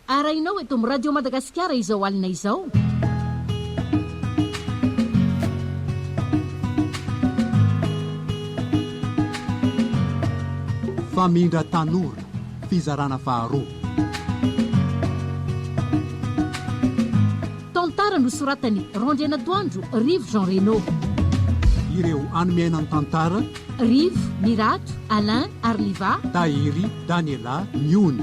Arahinao eto amin'ny Radio Madagasikara izao alina izao. Famindra tanora, fizarana faharoa. Tantara nosoratan'i Randrianatoandro Rivo Jean Reno. Ireo animiaina ny tantara. Rivo, Mirato, Alain, Arliva. Tahiry, Daniela, Miony.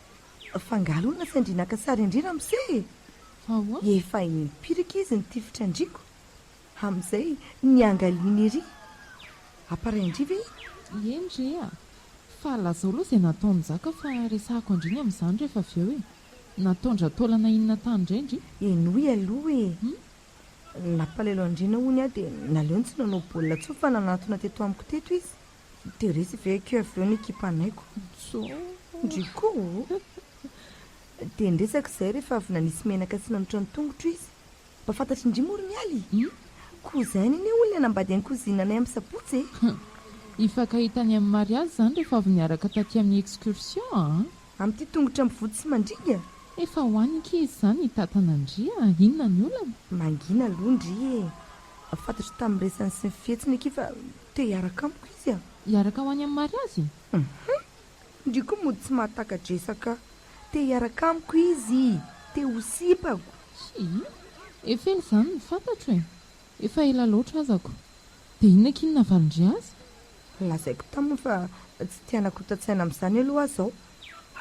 Fa nga aloha nasain-dry naka sary an-dry ramose e! Efa empirique izy ny tifitra an-driko. Amin'izay niangaliany ery. Appareil an-dry ve iny? Eny re a! Fa lazao aloha izay nataon'i Njaka fa resahako an-dry ny amin'izany rehefa avy eo e! Nataon-dRataolana inona tany indray ndry? Henoy aloha e! Nampalahelo an-dry nahony aho dia naleony tsy nanao baolina intsony fa nanatona teto amiko teto izy. Dia resy ve ekeo avy eo ny ekipanay ko ndry ko o! Dia niresaka izahay rehefa avy nanisy menaka sy nanotra ny tongotro izy. Mba fantatry ndry moa ry Mialy e! Ko izahay ny anie olona nambady any cousine anay amin'ny sabotsy e! Hifankahitany amin'i Mariazy izany rehefa avy niaraka taty amin'ny excursion an! Amin'ity tongotra mivoty sy mandringa? Efa ho any nge izy izany hitatana ndry a! Inona ny olana? Mangina aloha ndry e! Fantatro tamin'ny resany sy ny fihetsiny akia fa te hiaraka amiko izy a! Hiaraka ho any amin'ny mariazy e! Hum! Ndry koa mody tsy mahataka-dresaka! Te hiaraka amiko izy! Te ho sipako! Hii! Efa ela izany no fantatro e! Efa ela loatra azako! Dia inona akia no navalin-dry azy? Lazaiko taminy fa tsy te hanakotatsaina amin'izany aloha aho izao!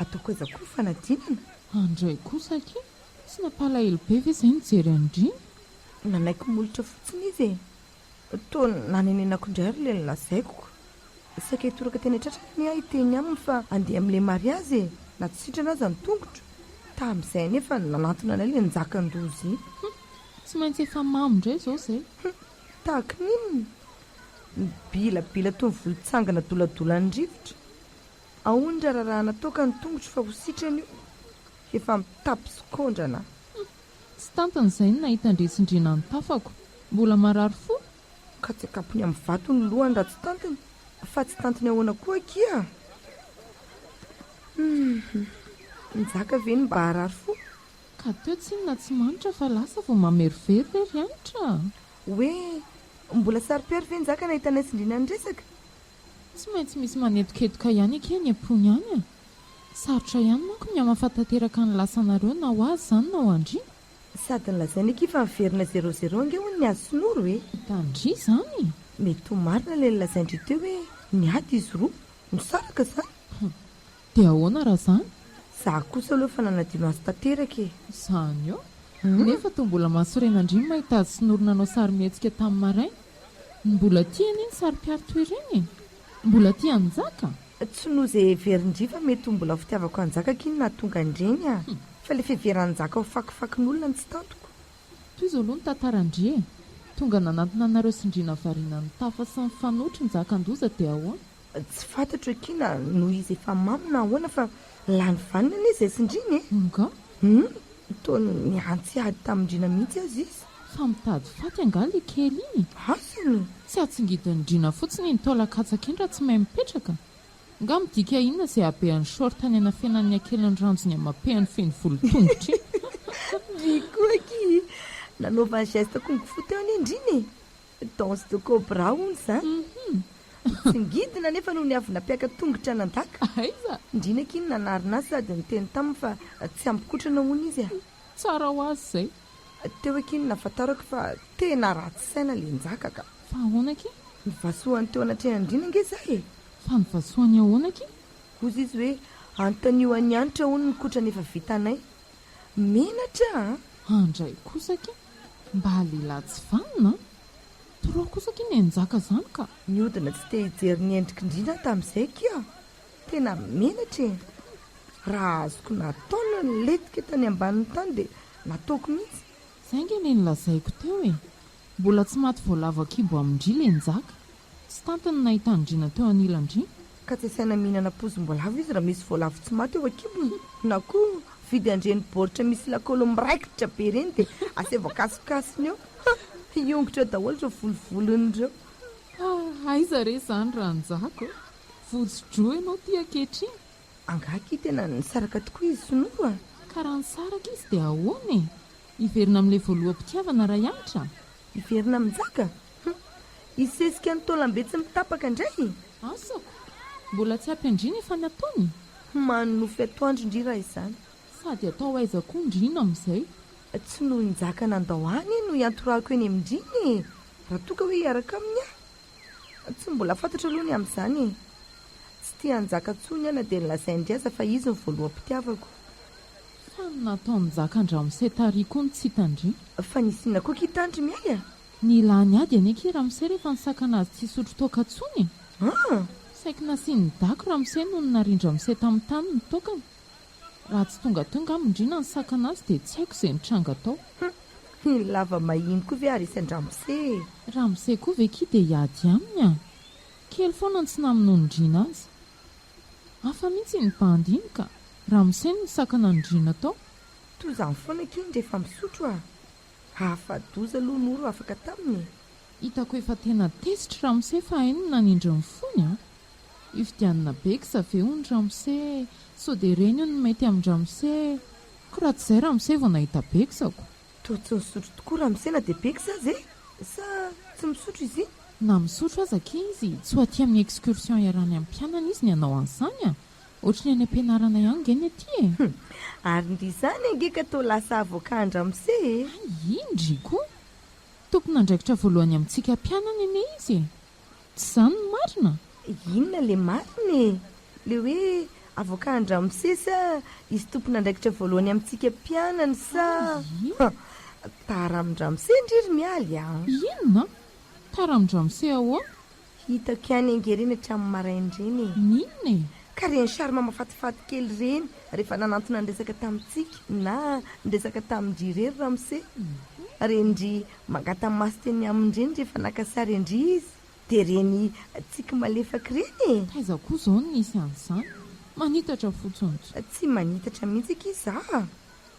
Hataoko aiza koa ny fanadinana? Andray kosa akia! Tsy nampalahelo be ve izay nijery an-dry? Nanaiky molotra fotsiny izy e! Toa nanenenako indray ary ilay nolazaiko. Saika hitoraka teny an-tratrany anie aho hiteny aminy fa handeha amin'ilay mariazy e! Na tsy sitrana aza ny tongotro. Tamin'izay anie efa nanantona anay ilay njakan-doza e! Hum! Tsy maintsy efa mamo indray izao izay. Hum! Tahaka ny inona? Nibilabila toy ny volotsangana doladolan'ny rivotra. Aony ra rarahana toaka ny tongotro fa ho sitrana io efa mitapy sokondrana. Humm. Tsy tantiny zay ny nahita andretsindrena ny tafako. Mbola marary fo? Ka tsy akapony amin'ny vato ny lohany raha tsy tantiny fa tsy tantiny ahoana koa akia a! Humm. Njaka ve ny mba harary fo? Ka teo tsinona tsy manitra fa lasa vao mamerovero re ry Hanitra a! Hoe mbola saro-piaro ve Njaka nahita anay tsindriana niresaka? Tsy maintsy misy manetoketoka ihany eke any am-pony any a! Sarotra ihany manko ny hamafa tanteraka ny lasanareo na ho azy izany na ho andriana. Sady nolazainy akia fa miverina zéro zéro ange hono ny azy sy Noro e! Hitan-dry izany? Mety ho marina ilay nolazain-dry teo hoe niady izy roa, nisaraka izany. Hum. Dia ahoana raha zany? Za kosa aloha efa nanadio maso tanteraka e! Zany eo! Nefa toa mbola mahasorena ndry ny mahita azy sy Noro nanao sarimihetsika tamin'ny maraina. Mbola tia anie ny sarimpiaro toy ireny e! Mbola tia an'i Njaka! Tsy noho izay heverin-dry fa mety ho mbola fitiavako an'i Njaka akia no nahatonga an'ireny a! Fa ilay fiheveran'i Njaka ho fakifakin'olona no tsy tantiko. Toy izao aloha ny tantaran-dry e! Tonga nanantona anareo sy ndry navarina nitafa sy nifanohitry Njaka an-doza dia ahoana? Tsy fantatro akia na noho izy efa mamo na ahoana fa lany vaniny anie izay tsindriany e! Nga? Humm, toa nihantsy ady tamin-dRina mihitsy aza izy. Fa mitady faty angaha le kely iny? Asany! Tsy hatsingidin-dRina fotsiny iny taolan-katsaka iny raha tsy mahay mipetraka? Nga midika inona izay habehan'ny short any anafenan'ny akelin'ny ranjony amapehany feno volo tongotra iny? Ndrii koa akia! Nanaovany geste kung fu teo anie ndrina e! Danse de cobra hono za. Tsingidina anefa no niavy nampiaka tongotra nandaka. Aiza? Ndriana akia no nanarina azy sady niteny taminy fa tsy hampikotrana hono izy a. Tsara ho azy izay. Teo akia no nahafantarako fa tena ratsy saina le njaka ka. Fa ahoana akia? Novasohany teo anatrehan'ndriana ange za e. Fa novasohany ahoana akia? Hozy izy hoe anontanio an'i Hanitra hono ny kotrana efa vitanay. Menatra a! Handray kosa akia. Mba lehilahy tsy vanona an! Trop kosa akia ny anjaka zany ka! Niodina tsy te hijery ny endrik'i Ndriana aho tamin'izay akia aho. Tena menatra e! Raha azoko natao ny nilentika tany ambanin'ny tany dia nataoko mihitsy. Izay ange ilay nolazaiko teo e! Mbola tsy maty voalavo an-kibo amin-dry ilay njaka. Tsy tantiny nahita andriana teo anilandriana. Ka tsy asaina mihinana poizim-boalavo izy raha misy voalavo tsy maty eo an-kibony. Na koa vidy an'ireny baoritra misy lakolo miraikitra be ireny dia aseho voakasokasony eo. Ha! hiongotra eo daholo ireo volovolony ireo. Ha! aiza re izany Ranjako e! Votso-droa ianao ity ankehitriny. Angaha akia tena nisaraka tokoa izy sy Noro a! Ka raha nisaraka izy dia ahoana e! Hiverina amin'ilay voaloham-pitiavana Raihanitra? Hiverina amin-jaka? Hum! Hisesika ny taolambe tsy mitapaka indray e! Asako! Mbola tsy ampy an-dry ny efa nataony? Homano nofy atoandro ndry raha izany. Sady atao aiza koa ndry iny amin'izay? Tsy noho i Njaka nandao ahy anie no hiantorahako eny amin-dry iny e! Raha toa ka hoe hiaraka aminy aho? Tsy mbola fantatro aloha ny amin'izany e! Tsy tia an'i Njaka intsony aho na dia nolazain-dry aza fa izy no voaloham-pitiavako. Fa ny nataon'i Njaka an-dramose tary koa no tsy hitan-dry? Fa nisy inona koa ki tandry Mialy a? Ny lany ady anie ki ramose rehefa nisakana azy tsy hisotro toaka tsony e! Saiky nasian'ny dago ramose nony narindra mise tamin'ny tany ny toakany. Raha tsy tonga teo ngamba ndrina nisakana azy dia tsy haiko izay nitranga tao. Ny lava mahiny koa ve ary hisy an-dramose e! Ramose koa ve ki dia hiady aminy a! Kely foana ny tsy namonoan'i ndrina azy. Hafa mihitsy iny bandy iny ka! Ramose no nisakana an'i ndrina tao. Toa izany foana ki ny rehefa misotro a! Hafa-doza aloha Noro afaka taminy e! Hitako efa tena tezitry ramose fa hainy ny nanindry ny fony an! Hifidianina beksa ve hono ramose sao dia reny hono ny mety amin-dramose ko raha tsy izay ramose vao nahita beksa ko! Toa tsy nisotro tokoa ramose na dia beksa aza e! Sa tsy misotro izy iny? Na misotro aza akia izy tsy ho aty amin'ny excursion iarahan'ny ampianany izy ny hanao an'izany an! Ohatry ny any am-pianarana ihany ange ny aty e! Humm! Ary ndry izany ange ka toa lasa avoka an-dramose e! Hay indry koa! Tompon'andraikitra voalohany amintsika mpianany anie izy e! Tsy izany ny marina? Inona ilay marina e? Ilay hoe avoka an-dramose sa izy tompon'andraikitra voalohany amintsika mpianany sa? Humm! Tara amin-dramose ndry ry Mialy a! Inona? Tara amin-dramose ahoana? Hitako ihany ange ireny hatramin'ny maraina ireny e! Ny inona e? Ka ireny charme mafatifaty kely ireny rehefa nanantona niresaka tamintsika na niresaka tamin-dry irery ramose. Reny-dry mangata-maso teny aminy ireny rehefa naka sary an-dry izy. Dia ireny tsiky malefaka ireny e! Taiza koa izao no nisy an'izany? Manitatra fotsiny. Tsy manitatra mihitsy akia izaho a!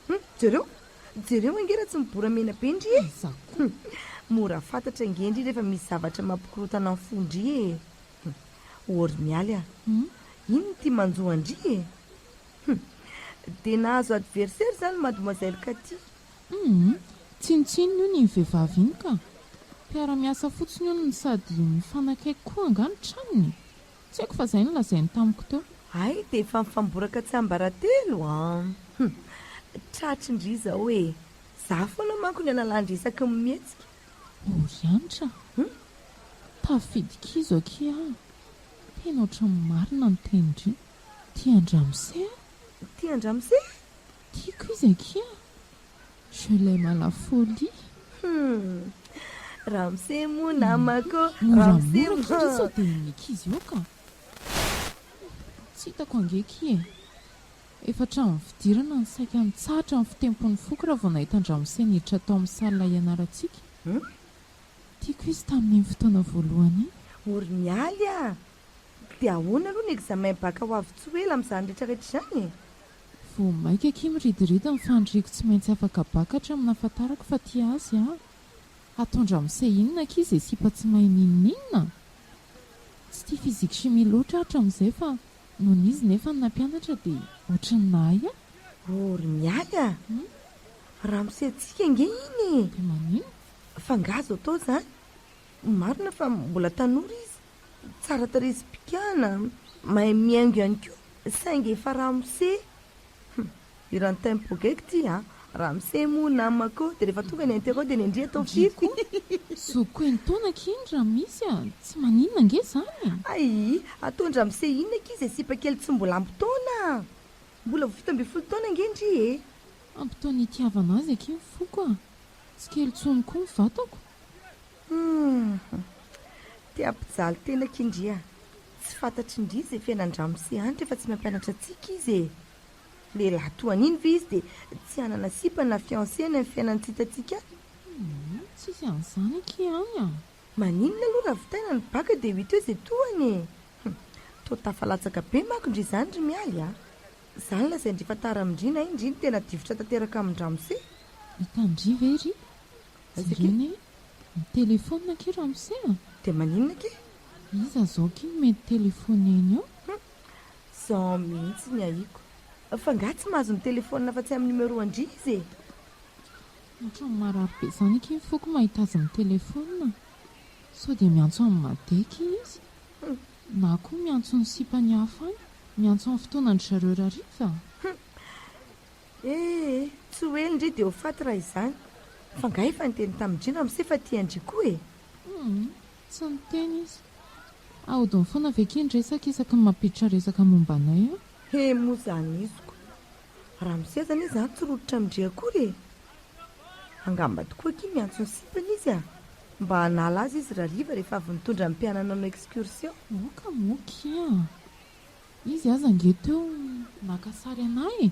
Hum, jereo, jereo ange raha tsy mibora mena be ndry e! Iza koa? Hum, mora fantatra ange ndry rehefa misy zavatra mampikorontana ny fo ndry e! Hum, Ory Mialy a! Hum, inn ity manjo an-dry e! Hum, dia nahazo adversaire izany mademoiselle Cathy! Hum, tsinontsinona hono iny vehivavy iny ka! Mpiara-miasa fotsiny hono no sady mifanakaiky koa angaha ny tranony e! Tsy haiko fa zay no lazainy tamiko teo. Hay dia efa mifamboraka tsiambaratelo an! Hum. Tratry ndry izao e! Za foana manko ny analandry isaky ny mihetsika. Ory Anitra a! Hum. Tafidy kizo akia aho a! Tena ohatran'ny marina ny tenindry. Tia an-dramose aho. Tia an-dramose? Tiako izy akia. Je l'aime à la folie. Hum. Ramse moa namako. Ramse moa. Moramora satria sao dia ny ankizy eo ka. Tsy hitako ange ki e. Efa hatramin'ny fidirana no saika nitsahatra ny fitempon'ny foko raha vao nahita an-dRamose niditra tao amin'ny salle hianarantsika. Tiako izy tamin'iny fotoana voalohany iny. Ory ny aly ah! Dia ahoana aloha ny examen bac ho avy tsy ho ela amin'izany rehetrarehetra izany e? Vao maika akia miridiridy ny fandriako tsy maintsy afaka bakatra aminy afantarako fa tia azy aho. Hatondra mise inona akia izay sipa tsy mahay n'inon'inona? Tsy tia physique chimie loatra aho hatramin'izay fa nony izy nefa no nampianatra dia ohatry ny nahay aho. Oh ry Mialy a! Ramose-tsika ange iny e! Dia maninona? F'angaha azo atao izany? Marina fa mbola tanora izy. Tsara tarehy sy pikana, mahay mihaingo ihany koa saingy efa ramose. Hum, hiran'i Tempo Geek ty a! Ramose moa namako dia rehefa tonga ny interro dia nendria tao firy ko! Zo ko eny taona aky iny raha misy a! Tsy maninona ange zany e! Aii, ataon-dramose inona aky izay sipa kely tsy mbola ampy taona a! Mbola vao fito ambin'ny folo taona ange ndry e! Ampy taona itiavana azy aky ny foko a! Tsy kely tsony ko ny vatako! Humm. Te hampijaly tena akia ndry a! Tsy fantatry ndry izay fiainan-dramose any rehefa tsy mampianatra antsika izy e! Lehilahy toa an'iny ve izy dia tsy hanana sipa na fiancé any amin'ny fiainan'ny tsintantsika any? Humm. Tsy hisy an'izany akia any a! Maninona aloha ravitaina ny baka dia ho hita eo izay tohany e! Humm. Toa tafalatsaka be manko ndry izany ry Mialy a! Za no lazain-dry fa tara amin-dry na indry no tena difotra tanteraka amin-dramose. Hitan-dry ve ry? Sirene e! Mitelefaonina akia ramose a! Dia maninona akia? Iza zao akia no mety telefaoneny eo? Hum! Zao mihitsy ny ahiako. F'angaha tsy mahazo mitelefaonina afa-tsy amin'ny numéro an-dry izy e? Ohatran'ny marary be izany akia ny foko mahita azy mitelefaonina. Sao dia miantso an'i Made akia izy? Hum! Na koa miantso ny sipan'i Hafa any, miantso amin'ny fotoanan-dry zareo rariva? Hum! Eh eh, tsy ho ely ndry dia ho faty raha izany. Fa nga efa niteny tamin'i Dry ramose fa tian-dry koa e! Humm, tsy niteny izy. Ahodiny foana ve kay ny resaka isaky ny mampiditra resaka momba anay an! He moa zany iziko. Ramose zany e zany tsy rototra amin-dry akory e! Angamba tokoa akia miantso ny sipany izy a! Mba hanala azy izy rariva rehefa avy nitondra ny mpianany nanao excursion. Moka moa kia! Izy aza ange teo naka sary anah e!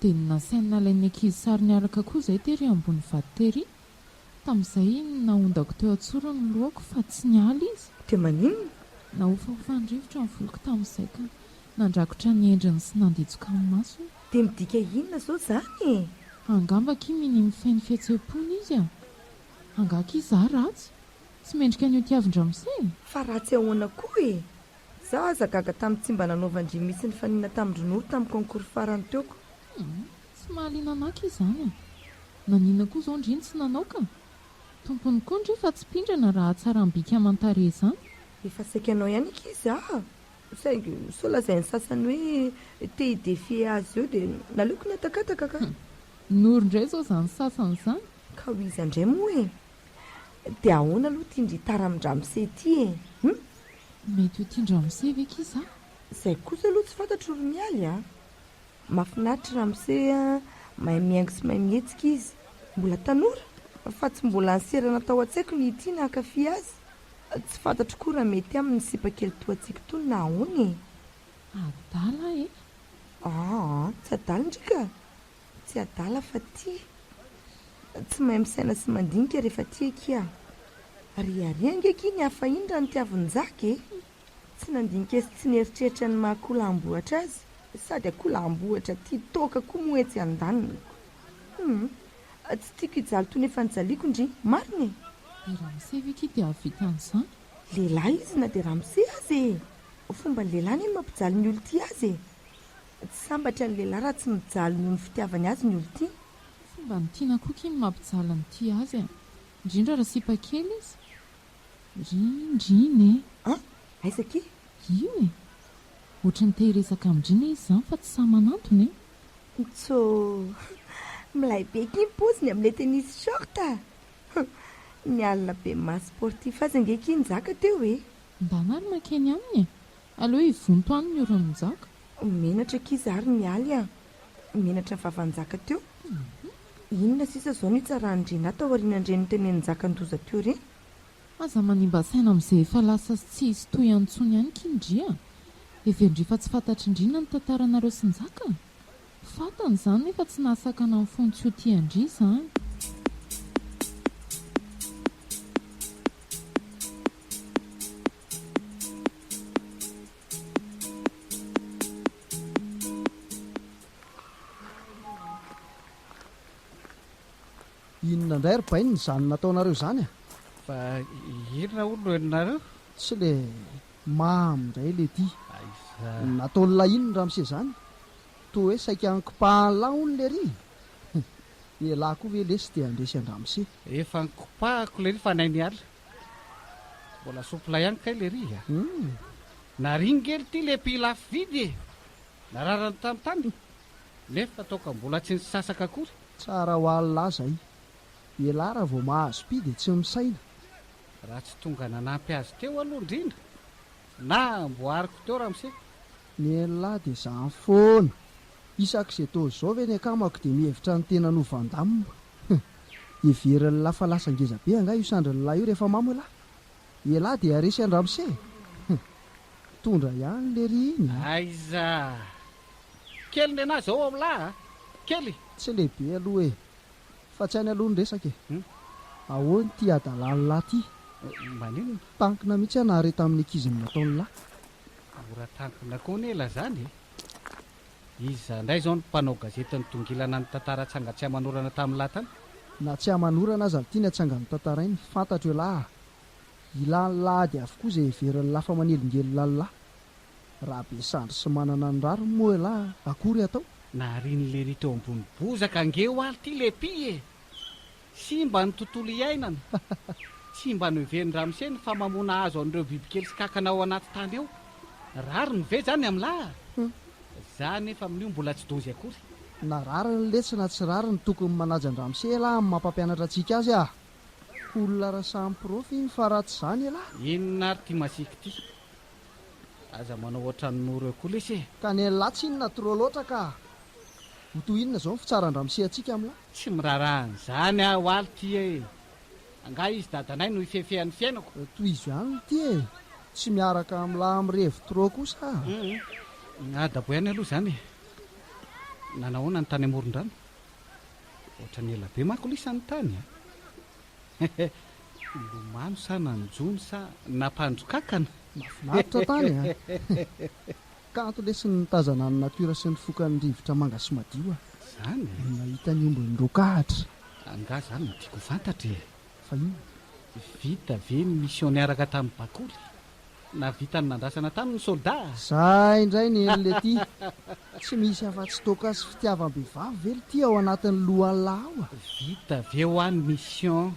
Dia nasainy nalain'ny ankizy sary niaraka koa izay tery ambony vato tery. Tamin'izay nahondako teo an-tsoro ny lohako fa tsy niala izy. Dia maninona? Nahofahofan'ny rivotra ny voloko tamin'izay ka nandrakotra ny endriny sy nanditsoka ny masony. Dia midika inona izao izany e? Angamba akia minia mifehy ny fihetseham-pony izy a! Angaha akia izaho ratsy? Tsy mendrika ny hotiavin-dramose e! Fa ratsy ahoana koa e? Za aza gaga tamin'ny tsy mba nanaovan-dry mitsy nifanina tamin-dry Noro tamin'ny concours farany teo ko. Ia? Tsy mahaliana anaka izany a! Nanina koa zao ndry ny tsy nanao ka! Tompony koa ndry fa tsy pindrana raha hatsaram bika aman tarehy zany. Efa saiky hanao ihany ankizy a! Saingy sao lazain'ny sasany hoe te hi defier azy eo dia naleoko nihatakataka ka! Hum! Noro ndray zao zany sasany zany! Ka ho iza ndray moa e! De ahoana aloha ty ndry taramin-dramose ty e? Hum? Mety ho tian-dramose ve ki za? Zay kosa aloha tsy fantatro ry Mialy a! Mafinaritra i Ramose a! Mahay mihaingo sy mahay mihetsika izy! Mbola tanora fa tsy mbola niserana tao an-tsaiko ny hitia na hankafy azy! Tsy fantatro koa raha mety aminy ny sipa kely toa antsika itony na ahoana e! Adala e! Aa! Tsy adala ndry ka! Tsy adala fa tia. Tsy mahay misaina sy mandinika rehefa tia akia a! Ariaria ange akia ny hafa iny raha nitiaviny Njaky e! Tsy nandinika sy tsy nieritreritra ny maha akola ambohatra azy. Sady akola ambohatra tia toaka koa moa etsy andaniko. Humm! Tsy tiako hijaly toy ny efa nijaliako ndry! Marina e! I Ramose ve akia te hahavita an'izany? Lehilahy izy na dia Ramose aza e! Fomban'ny lehilahy anie ny mampijaly ny olon-tia azy e! Tsy sambatra ny lehilahy raha tsy mijaly noho ny fitiavany azy ny olon-tiany. Tsy fomban'ny tiana koa ky ny mampijaly ny tia azy e! Indrindra raha sipa kely izy! Rindrina e! An! Aiza ky? Io e! Ohatran'ny te hiresaka amin-drindrina izy izany fa tsy sahy manantona e! Ntsô! Milay be ky ny paoziny amin'ilay tennis short a! Ny alina be maha sportif azy ange ky nizaka teo e! Ndana ary makeny aminy e! Aleo hivonto any ny oran'i Njaka. Menatra akia zary ny aly a! Menatra ny vavan'i Njaka teo. Inona sisa izao no hitsaran-dRenahy taorianan'ireny notenenin'i Njaka an-doza teo ireny? Aza manimba saina amin'izay efa lasa sy tsy hisy tohiny intsony ihany akia ndry a! Heverin'dry fa tsy fantatr'ndry na ny tantaranareo sy Njaka? Fantany izany nefa tsy nahasakana ny fony tsy ho tia an-dry izany. Inona indray ry bainina izany nataonareo izany a? Fa inona hono no henonareo? Tsy le mamy indray le ty. Aiza? Nataon'la inona ramose izany? Toa hoe saika ankopahan'la hono le ry. Ialahy koa ve lesy te handresy an-dramose? Efa ankopahako le ry fa nainiala. Mbola soupla ihany kay le riz a. Hum. Naringely ty le pays lafo vidy e. Nararany tany tany nefa toaka mbola tsy nisasaka akory. Tsara ho alina aza i. Elah raha vao mahazo pi dia tsy misaina. Raha tsy tonga nanampy azy teo aloha indrindra na amboariko teo ramose. Ny an'lah dia zany foana. Isak'izay toa izao ve ny akamako dia mihevitra ny tenany ho Van Damme? Heverin'lah fa lasa ngeza be angaha io sandrin'lah io rehefa mamo elah? Elah dia resy an-dramose e! Mitondra ihany lery iny a! Aiza! Kely nenah zao ao lah a! Kely! Tsy lehibe aloha e! Fa tsy any aloha ny resaka e! Ahoana ity hadalan'lah ity? Maninona? Tankina mihitsy aho nahare tamin'ny ankizy ny nataon'lah. Mora tampina koa anie lazany e! Iza indray izao ny mpanao gazety nitongilana ny tantara atsanga tsy aman'orana tamin'ny lahy tany? Na tsy aman'orana aza ny tiany atsanga notantarainy, fantatro elah a! Ilàn'ny lahady avokoa izay heverin'ny lahy fa manelingelina ny lahy. Raha be sandry sy manana ny rariny moa elah akory atao? Naharian'i Lery teo ambony bozaka ange oaly ity Leppy e! Simba ny tontolo iainana. Tsy mba noheverin-dRamose ny famamoana hazo an'ireo bibikely sy kankana ao anaty tany ao. Rariny ve izany amin'lah? Za anefa amin'io mbola tsy dozy akory. Na rariny letsy na tsy rariny tokony manaja an-dRamose elah amin'ny maha-mpampianatra antsika azy ah! Ko olona raha samy prof iny fa raha tsy izany elah! Inona ary ity masiaka ity? Aza manao ohatran'i Noro eo koa lesy e! Ka ny an'lah tsy inona trop loatra ka! Ho toy inona izao ny fitsaran-dRamose antsika amin'lah? Tsy miraharaha an'izany aho aly ty e! Angaha izy dadanay no ifefehan'ny fiainako? Tohizo ihany ity e! Tsy miaraka amin'ny lahy mirevy trop kosa aho a! Adabo ihany aloha izany e! Nanahoana ny tany amoron-drano? Ohatran'ny ela be manko lisany tany a! Nilomano sa nanjono sa nampandro kankana? Mahafinaritra tany a! Kanto lesy ny mitazana ny natiora sy ny fokan'ny rivotra manga sy madio a! Zany e! No nahita ny ombin'ny rokahatra. Angaha zany no tiako ho fantatra e! Fa inona? Vita ve ny mission niaraka tamin'ny bakoly? Nahavita ny nandrasana taminy ny soldat a! Zah indray ny eny lety! Tsy misy afa-tsy toaka sy fitiavam-behivavy ve lety ao anatin'ny lohallah ao a! Vita ve hoa ny mission?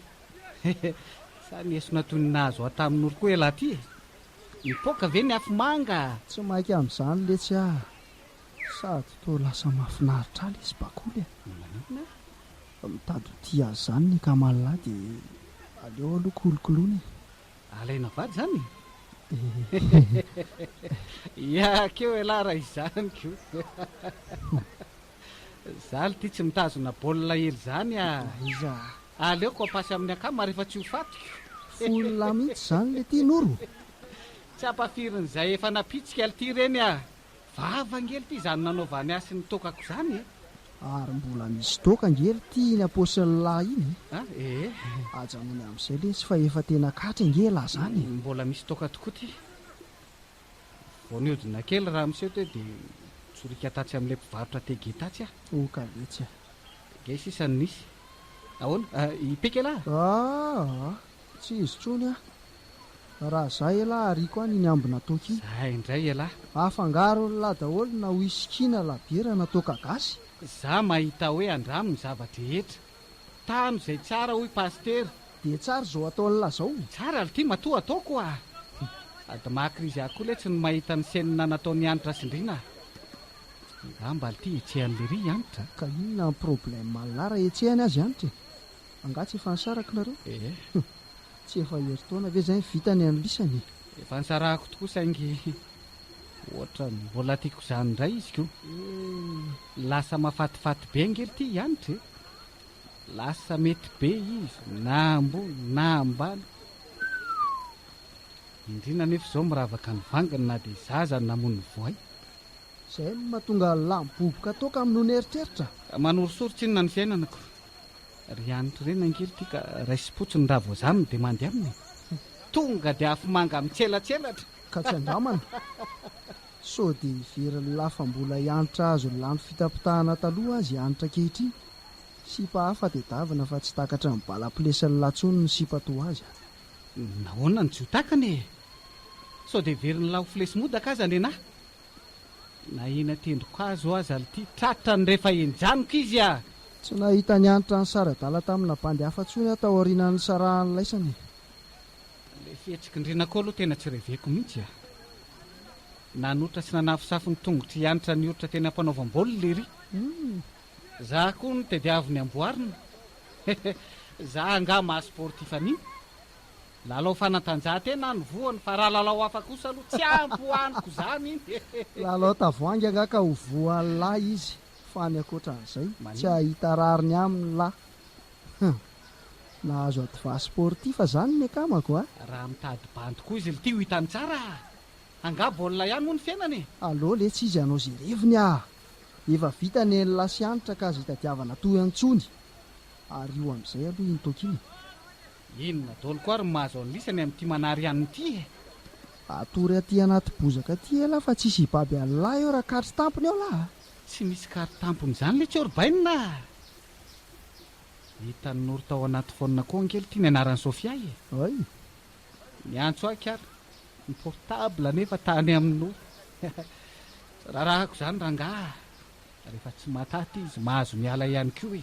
Sa ny esona toy ny nahazo ahy tamin'ory koa elah ty e! Mipoaka ve ny afomanga? Tsy maika amin'izany letsy aho. Sady toa lasa mahafinaritra ahy lesy bakoly e. Maninona e? Mitady ho tia azy izany ny Kamal-lahy dia aleo aloha kolokoloina e. Alaina vady izany e? Iakeo ialahy raha izany koa. Zaly ty tsy mitazona baolina hely zany a! Iza a? Aleoko ampasy amin'ny akama rehefa tsy ho fatiko. Foiny lahy mihitsy zany le ty Noro! Tsy ampafirin'ny zay efa napitsika lty ireny a! Vava ange lty izany nanaovany ahy sy ny tokako zany e! Ary mbola misy toaka ange lty iny ampaosin'ny lahy iny e! A ee! Ajanony amin'izay lesy fa efa tena katry ange lahy zany e! Mbola misy toaka tokoa ty! Vao nihodina kely raha miseho teo dia nitsorika tatsy amin'ilay mpivarotra tege tatsy aho. Oh, ka vitsy aho. Tege sisa no nisy. Ahoana? Ah, i Peka elah? Ah, tsy izy intsony aho. Raha izaho elah ariako any ny ambina toky. Izaho indray elah. Afangaron'lah daholo na whisky na labiera na toaka gasy. Izaho mahita hoe andramo ny zava-drehetra. Tano izay tsara hoy Pasitera. Dia tsara izao ataon'i la izao. Tsara ry ty matoa ataoko oa. Sady maha krizy ahy koa letsy ny mahita ny scène nataon'i Hanitra sy Ndriana a. Angamba lty hetsehan'i lery i Hanitra a. Ka inona ny problème laa raha hetsehany azy Hanitra e? Angaha tsy efa nisaraky nareo? Eeh. Tsy efa herintaona ve izay vita ny an'lisany e? Efa nisarahako tokoa saingy ohatran'ny mbola tiako izany indray izy ko. Lasa mafatifaty be ange ry ty i Anitra e. Lasa mety be izy na ambony na ambany. Indrina anefa izao miravaka ny vanginy na dia izaho aza no namono ny voay. Izay no mahatonga lamboboka toaka amin'ny noana eritreritra. Manorisory tsinona ny fiainanako. Ry anitry reny angery ty ka raisim-potsiny raha vao zany no dia mandy aminy e. Tonga dia afomanga mitselatselatra. Ka tsy andramana. Sao dia heverin'i la fa mbola i Anitra azo lany fitapitahana taloha azy i Anitra ankehitriny. Sipa hafa tedavina fa tsy takatry ny bala plesin'i la tsony ny sipa toa azy a. Nahoana no tsy ho takany e. Sao dia heverin'i la ho flesi-modaka aza nenaha. Na eny an-tendrokazo aza lty tratrany rehefa enjaniko izy a! Tsy nahita niantra ny sary adala tamina bandy hafa intsony aho tao aorianan'ny nisarahany laisany e! Ilay fihetsik'i Ndrinako aloha tena tsy reveko mihitsy a! Nanotra sy nanafosafo ny tongotr'i Hanitra nioritra teny am-panaovam-baolina ery! Za koa no tadiaviny amboarina! Za angaha maha sportif an'iny? Lalao fanatanjahantena no voany fa raha lalao hafa kosa aloha tsy ampy ho aniko izany e! Lalao tavoahangy angaha ka ho voan'ny la izy fa ny ankoatran'izay tsy hahita rariny aminy la! Hum! Nahazo adva sportif izany ny akamako a! Raha mitady bandy koa izy lty ho hitany tsara a! Angaha baolina ihany moa ny fiainana e! Allo letsy izy hanao izay reviny a! Efa vita ny eny la sy hanitra ka aza hitadiavana toa intsony! Ario amin'izay aloha iny toaka iny e! Inona daholo koa ary ny mahazo an'lisy any amin'ity manary anona ity e! Atory aty anaty bozaka aty elah fa tsisy hibaby anlah eo raha kary tampony eo lah a! Tsy misy kary tampony izany le tsiorbeinina a! Hitan'i Noro tao anaty phone koa ange lty ny anaran'i Sofia e! Ay! Niantso ahy kar ny portable nefa tany amin'i Noro Rarahako izany rangah a! Rehefa tsy mataty izy mahazo miala ihany koa e!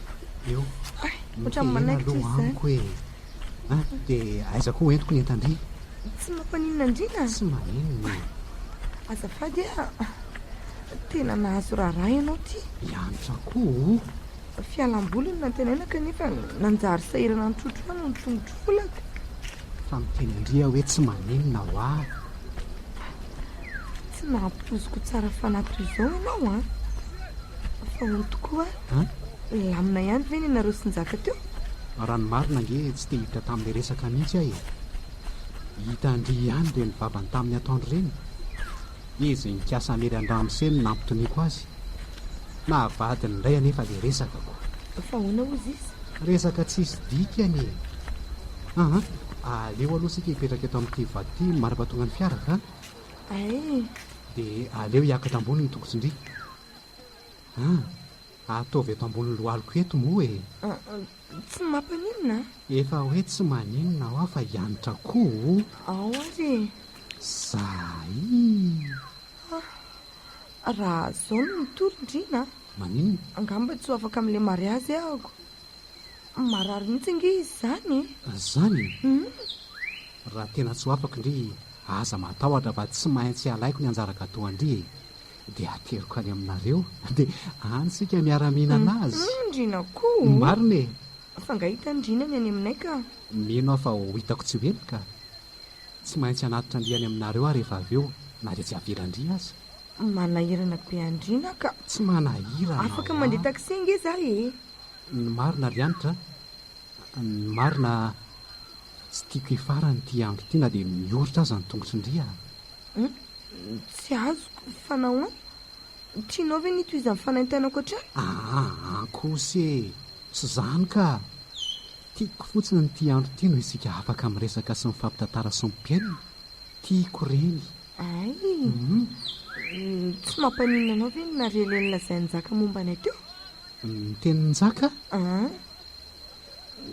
eo. Ay, ohatran'ny manaikitra izy zany. Amiko e. Ah, dia aiza koa entiko ny entan-dry? Tsy mampaninona andriana? Tsy maninona. Azafady a. Tena nahazo raharaha ianao ty. Iantra koa. Fialam-boly no nantenaina kanefa nanjary sahirana nitrotro ahy noho ny tongotr'olako. Fa miteny an-dry aho hoe tsy maninona hoa. Tsy nampitoziko tsara fanahy toy izao ianao an! Fa hono tokoa, nilamina ihany ve ny anareo sy Njaka teo? Raha ny marina ange tsy te hiditra tamin'ilay resaka mihitsy aho e! Hita an-dry ihany ireny vavany tamin'ny ataon-dry ireny. Izy nikasa hamely an-dRamose no nampitoniako azy. Naha vadiny indray anefa ilay resaka ko. Fa ahoana hozy izy? Resaka tsisy dikany e! Aha, aleo aloha isika hipetraka eto amin'ity vato ity mandrapa tonga ny fiara ka. Ay! Dia aleo hiakatra ambony ny tongotrindry. An! Ataovy eto ambonin'ny lohaliko eto moa e! Tsy mampaninona an? Efa hoe tsy maninona hoa fa hianatra koa o! Ao ary e! Zaiiii! Ah! Raha zao no mitory indrina an! Maninona? Angamba tsy ho afaka amin'ilay mariazy ahako. Marary mihitsy ange izy izany e! Zany e! Hum! Raha tena tsy ho afaka ndry aza matahotra fa tsy maintsy alaiko ny anjara gateau an-dry e! dia ateriko any aminareo, dia any isika miara-mihinana azy. Hum, Ndriana koa oh! Marina e! Fa nga hita ny Ndriana ny any aminay ka? Mino aho fa ho hitako tsy ho ela ka! Tsy maintsy hanatitra an-dry any aminareo aho rehefa avy eo, na dia tsy havelan-dry aza. Manahirana be an-dRiana ka! Tsy manahirana aho a! Afaka mandeha taxi ange za e! Ny marina ry Hanitra a, ny marina, tsy tiako hifarana ity andro ity na dia mioritra aza ny tongotry Ndry a! Humm, tsy azoko, fa nahoana? Tianao ve ny hitohizan'ny fanaintainako hatrany? Aa, ankosa e! Tsy izany ka! Tiako fotsiny ity andro ity no isika afaka miresaka sy mifampitantara sy mpihainona. Tiako ireny. Ay! Tsy mampaninona anao ve ny narialen'ny lazain'i Njaka momba anay teo? Ny tenin'i Njaka? Aa!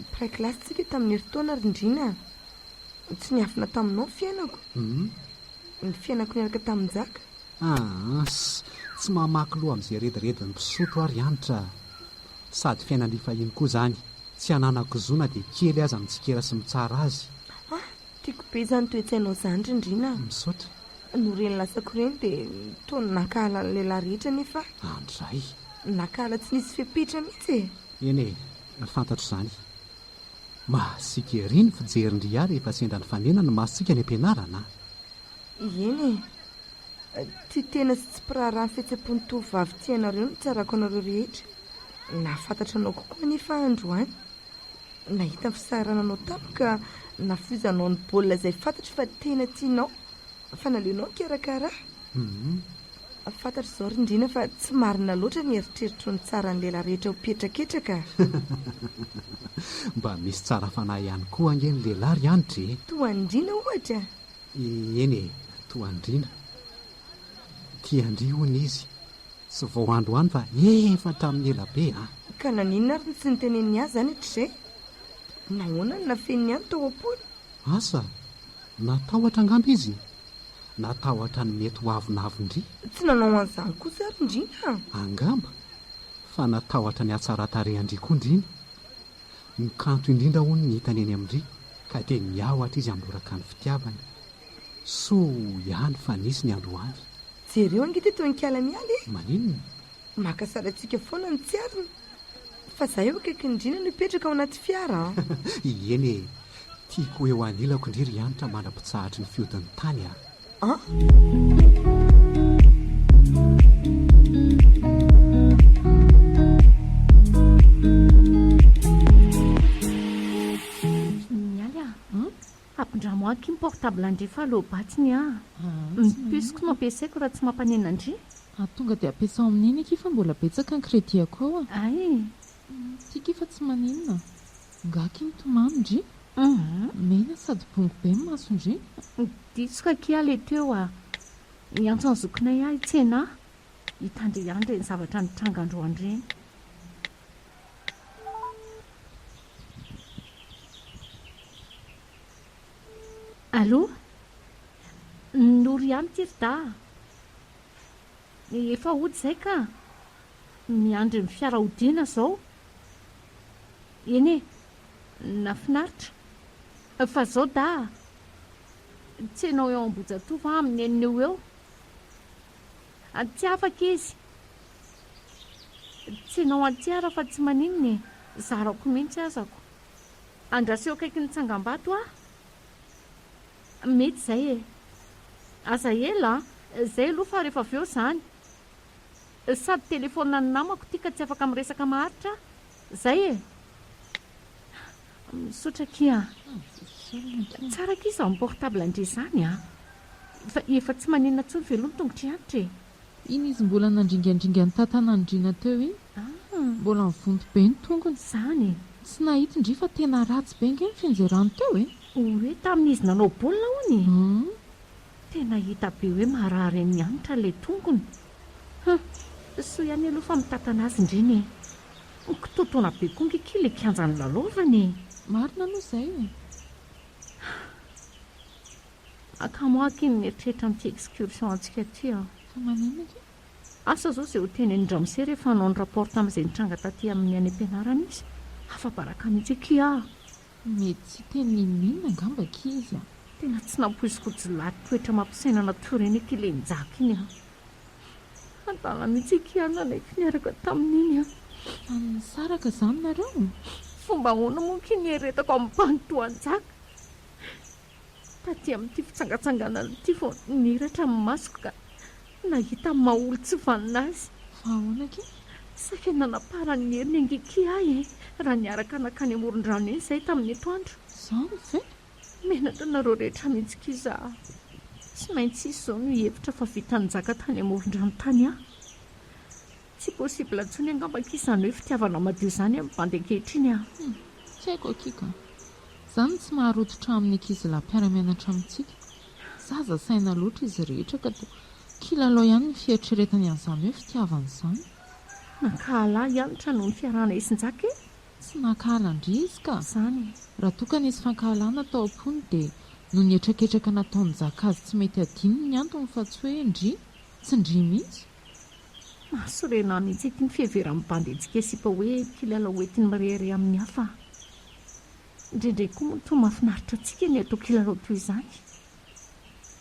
Mpiray kilasy tsika tamin'ny herintaona ry Ndriana a. Tsy niafina taminao ny fiainako. Ny fiainako niaraka tamin'i Njaka. Aahs, tsy mamaky loha amin'izay rediredin'ny mpisotro aho ry Hanitra a. Sady fiainan'ny fahiny koa izany, tsy ananako zo na dia kely aza mitsikera sy mitsara azy. Ah, tiako be izany toe-tsainao izany ry Ndriana a. Misaotra. No reny latsako reny dia toa nankahala ny lehilahy rehetra anie fa. Andray. Nankahala tsy nisy fepetra mihitsy e. Eny e, fantatro izany. Mahasiaka ery ny fijerin-dry ahy rehefa sendra nifanena ny masontsika any am-pianarana a. Eny e. Tia tena sy tsy mpiraharaha ny fihetseham-pon'ny tovovavy tianareo no tsarako anareo rehetra. Nahafantatra anao kokoa anefa aho androany. Nahita ny fisaharananao tamiko ka nafoizanao ny baolina izay fantatro fa tena tianao, fa naleonao nikarakara ahy. Fantatro izao ry Ndriana fa tsy marina loatra ny eritreritro ny tsaran'ny lehilahy rehetra ho petraketraka. Mba misy tsara fanahy ihany koa ange ny lehilahy ry Hanitra e! Toa an'i Ndriana ohatra? Eny e, toa an'i Ndriana. Tia an-dry hono izy. Tsy vao androany fa efa hatramin'ny ela be an! Ka naninona ary no tsy niteneniny ahy izany hatrizay? Nahoana no nafeniny ahy ny tao am-pony? Asa, natahotra angamba izy? Natahotra ny mety ho avonavon-dry? Tsy nanao an'izany kosa ary ndry an! Angamba fa natahotra ny hatsaran-tarehan-dry koa ndry ny? Ny kanto indrindra hono no hitany eny amin-dry ka dia niahotra izy handoraka ny fitiavany. Soa ihany fa nisy ny androany. Jereo ange ity tononkala miala e! Maninona? Maka sary antsika foana ny tsiarina. Fa za eo akaikin'i Drina no hipetraka ao anaty fiara an! Ieny e! Tiako ho eo anilako ndry ry Hanitra mandra-pitsahatry ny fihodin'ny tany a! An! Hampindramo ahy kim portable an-dry fa low bat ny ahy. Ny puce ko no ampiasaiko raha tsy mampanena an-dry. Ary tonga dia ampiasao amin'iny akia fa mbola betsaka ny crédit-ako ao a. Ay. Ty ki fa tsy maninona. Nga ki mitomany ndry. Mena sady bongo be ny maso ndry. Diso ka ki aho le teo a. Niantso an'i zokinay ahy hitsena ahy. Hitandre ihany ireny zavatra nitranga androany ireny. Allo? Noro ihany ity ry dahy a! Efa hody izay ka! Miandry ny fiara hodiana izao. Eny e! Nahafinaritra. Fa izao dahy a! Tsy ianao eo Ambohijatovo va amin'ny enina eo ho eo? Tsy afaka izy. Tsy ianao anty ara fa tsy maninona e, zarako mihitsy azako. Andraseo akaikin'ny tsangambato aho. Mety izay e. Aza ela a! Izay aloha fa rehefa avy eo izany. Sady telefaoninan'ny namako ity ka tsy afaka miresaka maharitra aho. Izay e. Misaotra akia a. Tsara akia izany portable an-dry izany a. Fa efa tsy manenina intsony ve aloha ny tongotry Hanitra e? Iny izy mbola nandringandringa ny tantanan'ndrina teo iny. Mbola nivonto be ny tongony. Izany e. Tsy nahit ndry fa tena ratsy be nge ny fianjerany teo e. Oe tamin'izy nanao baolina hono e. Tena hita be hoe marary an'i Hanitra ilay tongony. Hum, soa ihany aloha fa mitantana azy ndriny e. Ho kitoatoana be koa ankehitriny ilay kianja nilalaovana e! Marina aloha izay e! Akamo aky ny mieritreritra an'ity excursion antsika ity aho. Fa maninona akia? Asa izao izay hotenenin-dRamose rehefa hanao ny rapport tamin'izay nitranga taty aminy any am-pianarana izy? Afa-baraka mihitsy akia aho! Mety tsy teny ninoninona angamba akia izy an! Tena tsy nampoiziko jiolahy toetra mampisainana toy ireny ity Lenjaka iny an! Adala mihitsy i Kian nanaiky niaraka tamin'iny an! Fa nisaraka izany nareo? Fomba ahoana moa akia ny hieretako amin'ny mpanotoan-jaka? Taty amin'ity fitsangatsanganana ity vao niratra ny masoko ka nahita ny maha olon-tsy vanona azy. Fa ahoana aky? Saika nanaparan'ny heriny angiaky ahy e! Raha niaraka nankany amoron-drano iny izahay tamin'ny etoandro. Izany ve? Menatra anareo rehetra mihitsy aky izaho. Tsy maintsy hisy izao no hihevitra fa vita nizaka tany amoron-drano tany aho. Tsy possible intsony angamba akia izany hoe fitiavana madio izany amin'ny bandy ankehitriny a! Hum, tsy haiko akia ka! Za no tsy maha rototra amin'ny ankizilahy mpiara-mianatra amintsika. Zaza saina loatra izy rehetra ka toa kilalao ihany ny fieritreretany an'izany hoe fitiavana izany. Nankahala ahy Hanitra noho ny fiarahana isin-jaka e! Tsy nankahala an-dry izy ka! Izany e! Raha toa ka nisy fankahalana tao am-pony dia noho ny hetraketraka nataon'i Jaka azy tsy mety hadino ny antony fa tsy hoe ndry, tsy ndry mihitsy. Mahasorena ahy mihitsy ity fiheveran'ny bandy an-tsikesipa hoe mpilalao hoentin'ny mirehareha amin'ny hafa an! Indraindray koa moa toa mahafinaritra antsika ny hatao kilalao toy izany.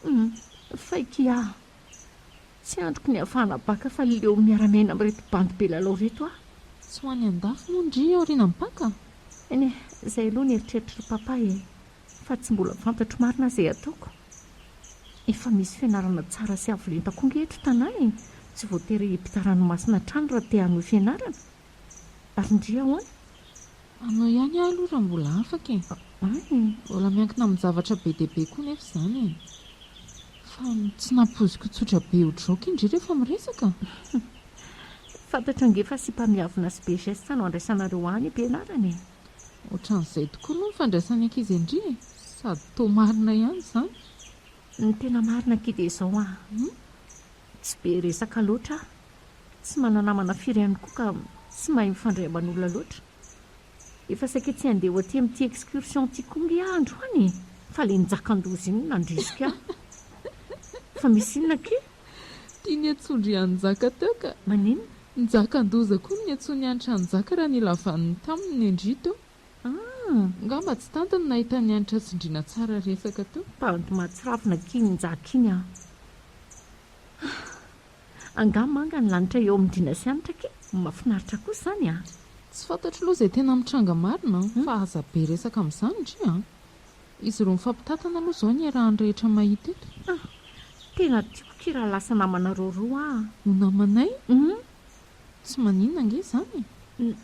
Humm, faiky aho! Tsy andriko ny hahafahana baka fa leo miara-miaina amin'ireto bandy be lalao ireto aho. Tsy ho any an-dafy moa ndry aorianan'ny Paka? Eny e, izay aloha ny eritreritry ry Papa e! Fa tsy mbola fantatro marina izay ataoko. Efa misy fianarana tsara sy avo lenta koa ange eto tanàna e! Tsy voatery hipita ranomasina hatrany raha te hanohy fianarana. Ary ndry ahoana? Anao ihany aho aloha raha mbola afaka e! An e! Mbola miankina amin'ny zavatra be dia be koa nefa izany e! Fa tsy nampoiziko tsotra be odraoko i ndry rehefa miresaka! Fantatro ange fa sipa miavona sy be geste no andraisanareo any am-pianarana e! Ohatran'izay tokoa moa ny fandraisan'ny ankizy an-dry e! Sady toa marina ihany izany. Ny tena marina akia dia izao an! Tsy be resaka loatra aho, tsy mana-namana firy ihany koa ka tsy mahay mifandray aman'olona loatra. Efa saika tsy handeha ho aty amin'ity excursion ity koa ange aho androany e! Fa ilay njakan-doza iny no nandrisika ahy. Fa misy inona akia? Tiany hatsondry an'i Njaka teo ka! Maninona? Njakan-doza koa ny Ntsonihanitra Hanjaka raha nilavaniny taminy ny Ndrito ah! Ngamba tsy tantiny ny nahita ny Hanitra Tsindriana tsara resaka teo. Tanty mahatsirafina k'iny Njaka iny an! Ah! Angaha manga ny lanitra eo amin'ny Ndriana sy Hanitra kay! Mafinaritra kosa izany an! Tsy fantatro loha izay tena mitranga marina an! Fa aza be resaka amin'izany ndry an! Izy roa mifampitantana aloha izao ny iarahan'ny rehetra mahita eto. Ah! Tena tiako akia raha lasa namanareo roa aho. Ho namanay? Humm! Tsy maninona ange izany e! N,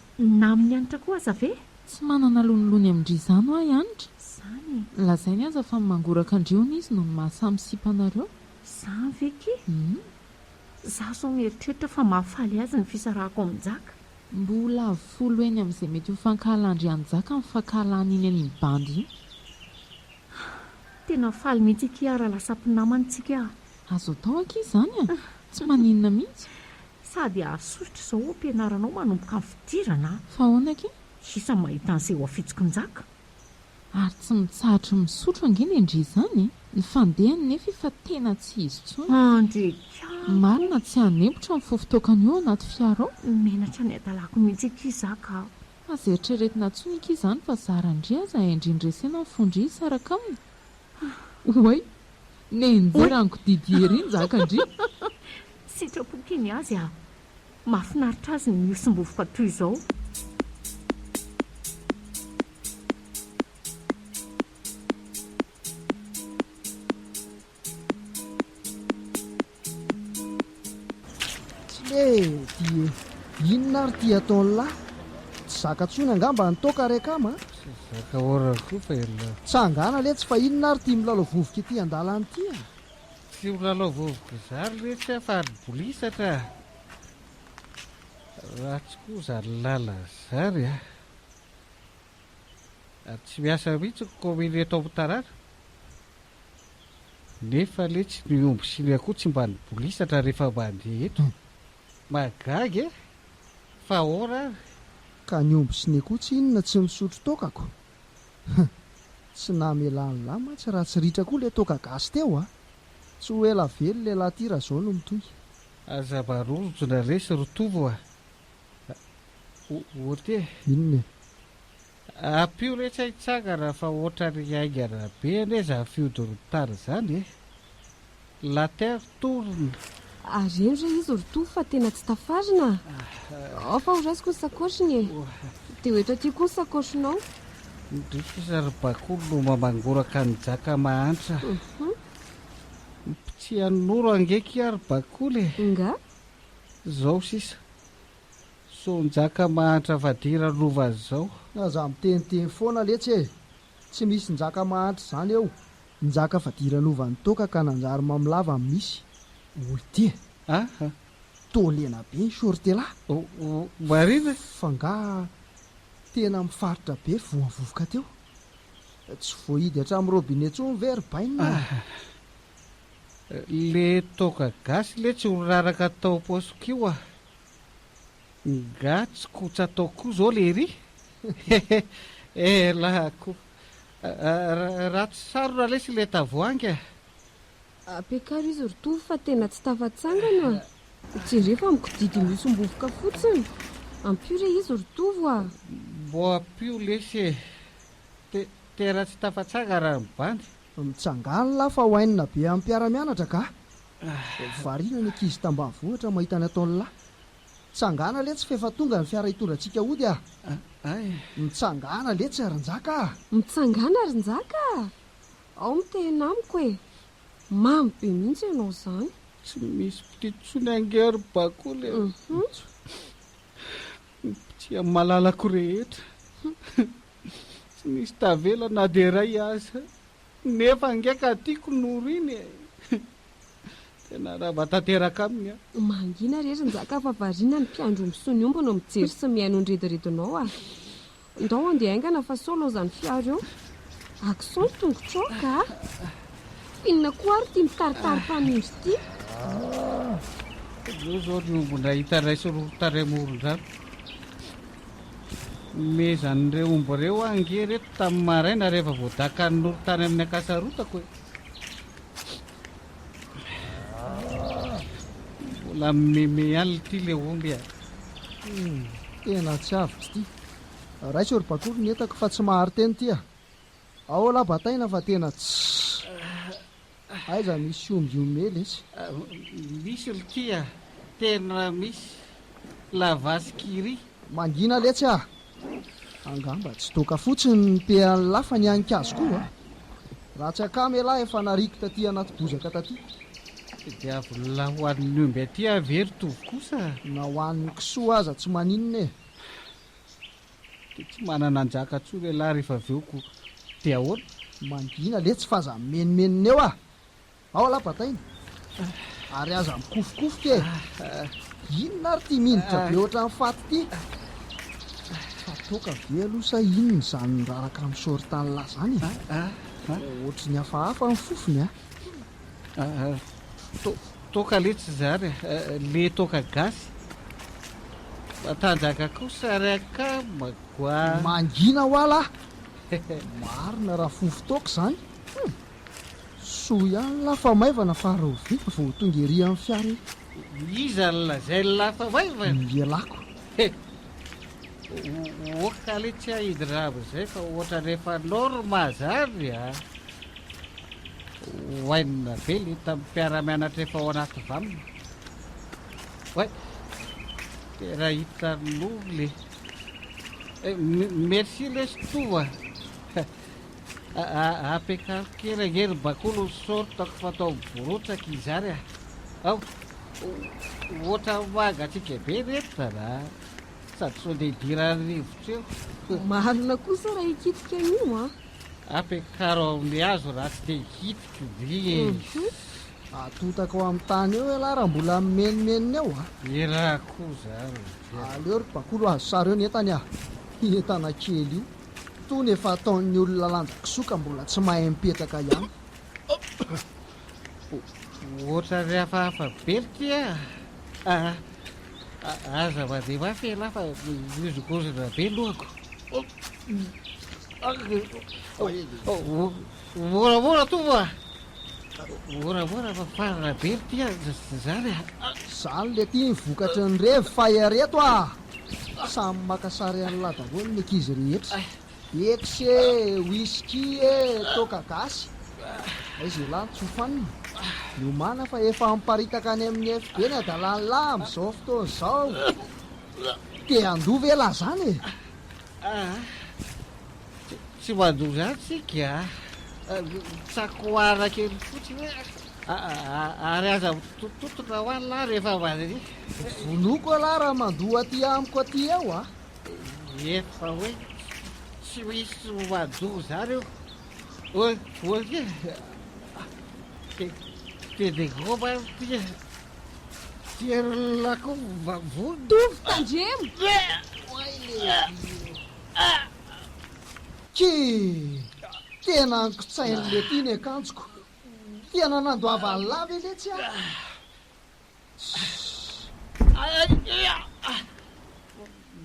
namin'i Hanitra koa aza ve? Tsy manana lonilony amin-dry izany ho'a i Hanitra. Izany e! Lazainy aza fa ny mangoraka an-dry hono izy no ny maha samy sipanareo. Izany ve akia? Humm! Za zao mieritreritra fa mahafaly azy ny fisarahako amin'i Njaka. Mbola folo heny amin'izay mety ho fankahalan-dry Anjaka ny fankahalan'iny an'iny bandy iny. Tena faly mihitsy akia ara lasa mpinaman'tsika a! Azo atao akia izany a! Tsy maninona mihitsy. Sady hahasosotra izao ampianaranao manomboka ny fidirana a! Fa ahoana akia? Sisa mahita an'seho afitsok'i Njaka. Ary tsy mitsahatra misotro ange ny an-dry izany e! Ny fandehany nefa efa tena tsy izy intsony. Marina tsy hanempotra ny fofo toakany io ao anaty fiara ao. Menatra ny hadalako mihitsy akia izaho ka. Aza eritreretina intsony akia izany fa zara an-dry aza e! Ndry noresena ny fon-dry hisaraka aminy. Oay! Nenjeran'i Godidier ery njaka an-dry. Sitrapo kely ny azy aho. Mahafinaritra azy ny mihosom-bovy fa toy izao. Inona ary ity ataon'i lahy? Tsy zaka tsony angamba ny toaka ary akama a! Zaka ora koa fa ialahy. Tsangana letsy fa inona ary ity milalao vovoka ety an-dalana ity a! Tsy ho lalao vovoka zary re tsy afa aribolisatra raha tsy koa zary lala zary a. Ary tsy miasa mihitsy ny kaominy eto amin'ny tanàna. Nefa letsy ny omby sy ny akoho tsy mba nibolisatra rehefa mandeha eto. Mahagaga e! Fa ahoana ary? Ka ny omby sy ny akoho tsy inona tsy misotro tôkako? Huh. Tsy namela an'lah mantsy raha tsy ritra koa le toaka gasy teo a! Tsy ho ela velona elah ty raha zao no mitohy. Aza marorotro na resy ry Tovo a! Ohatra e! Inona e? Ampio resy ahitsangana fa otrany haingana be anie zany fihodorontany zany e! La terre tourne. Ary eny re izy ry Toa fa tena tsy tafarina ah! Ao fa horaisiko ny sakoshiny e! Dia ho eto aty koa ny sakoshinao. Ndrisy ry Bakoly no mamangoraka an'i Jaka mahantra. Mpitsianoro ange aky aho ry Bakoly e! Nga? Zao sisa. Sao Njaka mahantra fadira lova zao. Aza miteniteny foana letsy e! Tsy misy njaka mahantra izany eo. Njaka fadiranovà ny toaka ka nanjary mamilava ny misy. Oltia. Aha. Toa lena be ny shorte là. Oh, marina. F'angaha tena mifaritra be voavovoka teo? Tsy voahidy hatramin'ny robinet intsony ve ry bainina a? Aha. Le toaka gasy letsy ho raraka tao poche-ko io a. Nga tsy kotsa atao koa zao lery? Elah koa. Ratsy sarona lesy ilay tavoahangy a! Ampiakaro izy ry Tovo fa tena tsy tafatsangana a! Jereo fa mikodidina io sombovoka fotsiny! Ampio re izy ry Tovo a! Mbô ampio lesy e! Te, tena tsy tafatsangana ny bandy! Mitsangàla fa ho hainina be amin'ny mpiara-mianatra ka! Variana ny ankizy tambanivohitra mahita ny ataon'ny lahy. Tsangana letsy f'efa tonga ny fiara hitondra antsika hody a! Mitsangàna letsy ry Njaka a! Mitsangàna ry Njaka a! Ao mitehena amiko e! Mamy be mihitsy ianao izany. Tsy misy mpitia intsony ange ry Bakoly e! Ny mpitia malalako rehetra. Tsy nisy tavela na dia iray aza. Nefa ange ka tiako Noro iny e! Tena rava tanteraka aminy aho. Mangina re ry Njaka fa variana ny mpiandry omby sy ny omby no mijery sy mihaino ny rediredinao a! Ndao andeha haingana fa sao laozan'ny fiara eo. Accent ny tongotrao ka a! Finina koa ary ity mitaritary mpanondro ity. Aleo izao ny ombinay hitaraisy roa tarehy moron-drano. Nomezan'ireo omby ireo aho ange ireto tamin'ny maraina rehefa vao dakan'ny noro tany amin'ny ankasarotako e. Mbola mimeme ihany ity le omby a. Hmm, tena tsy avotry ity. Raiso ry bakolo ny entako fa tsy mahari-teny ity a. Aola bataina fa tena tsy. Aiza misy omby homehy lesy? Misy ry kia, tena misy. La vache qui rit. Mangina letsy ah! Angamba tsy doka fotsiny ny pehan'ny la fa ny an'ny kazo koa an! Ratsy akama elah efa nariako taty anaty bozaka taty. Dia avy la ho an'ny omby aty ah ve ry tovo kosa? Na ho an'ny kisoa aza tsy maninona e! Dia tsy manana anjaka tsoa ve lah rehefa avy eo ko dia ahoana? Mangina letsy fa aza mimenomenona eo ah! Ao lah bataina! Ary aza mikofokofoka e! Inona ary ity minitra be ohatran'ny faty ity? Fa toaka ve aloha sa inona izany miraraka amin'ny shortan lah izany e? Ohatry ny hafahafa ny fofony ah! Toaka letsy izany a! Le toaka gasy? Matanjaka kosa ary akama goa! Mangina hoa lah! Marina raha fofo toaka izany! Hum! Soa ihany lah fa maivana fa reo vita vao tonga ery amin'ny fiara ery! Iza no lazain'ny lah fa maivana? Ny lelako! He! Ohatra aloha tsy hahiditra amin'izay fa ohatra rehefa norma zany a hohainina be le tamin'ny mpiara-mianatra efa ao anaty vam way tena hiditra ny loha le eh, merci lesy toa Apetrako kely ange ry bakolo sortako fatao borotsaka izany a. Ao, ohatran'ny mangatsiaka be ny entona a. Sady sao dia idiran'ny rivotra eo. Marina kosa raha hikitika io a. Apekaro ao amin'ny hazo raha tsy te hikitika ndry e. Atotaka ao amin'ny tany eo elah raha mbola mimenomenona eo a. Elah koa zany. Aleo ry bakolo azo sary eo ny entany a. Io entana kely io. Itony efa ataon'ny olona lanja kisoka mbola tsy mahay mipetraka ihany. Ohatran ry hafahafa be ry ty a! Ah! Aza mandeha mafy ialahy fa mihozongozona be lohako. Moramora tovo a! Moramora fa farana be ry ty a! Zany a! Zany le ty ny vokatry ny revy fa ereto a! Samy maka sary an'lah daholo ny ankizy rehetra. Ex e, whisky e, toaka gasy. Aiza elah ny tsofanina? Miomàna fa efa miparitaka any amin'ny FB ny adalan'lah amin'izao fotoana izao. Te handoa ve lah zany e? Tsy mandoa izany tsika a. Tsakoana kely fotsiny hoe ary aza mitototona ho any lahy rehefa mandihy. Vonoiko aloha raha mandoa aty amiko aty eo a. Eto fa hoe tsy misy mandoa izany eo. Oy, oy e. Dia dia dia goba ity e. Tsy herin'ny lakovo mba vonona. Tovy tandremo! Oay le vy io. Kii! Tena ankotsain'i Lety ny akanjoko. Tena nandoavany lahy ve letsy aho?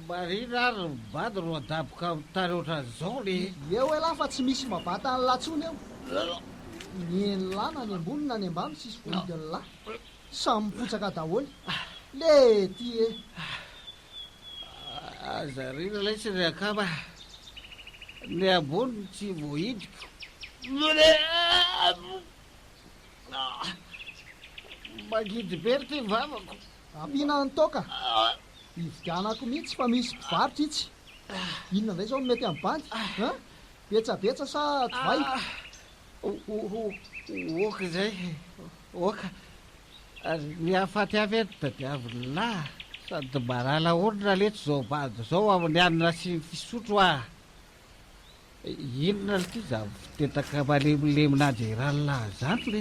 Marina ary ny bado no adaboka amin'ny tany ohatran'izao le. Eo elah fa tsy misy mabata an'i lahy tsony eo. Ny eny lahy na ny ambony na ny ambany tsisy vohidin'ny lahy. Samy mipotsaka daholo. Lety e! Aza rira lesy ry akama, ny ambony no tsy voahidiko. Mangidy be ry ty vavako. Ampiana any toaka. Hividianako mihitsy fa misy mpivarotra itsy. Inona indray izao no mety amin'ny bandy? Betsabetsa sa divay? Oka indray, oka. Ary ny hahafaty avy eto tadiaviny lah. Sady marala orina letsy zao bado zao amin'ny hanina sy ny fisotro ah. Inona lty zany fitetaka malemilemy na dia iray lahy zany le.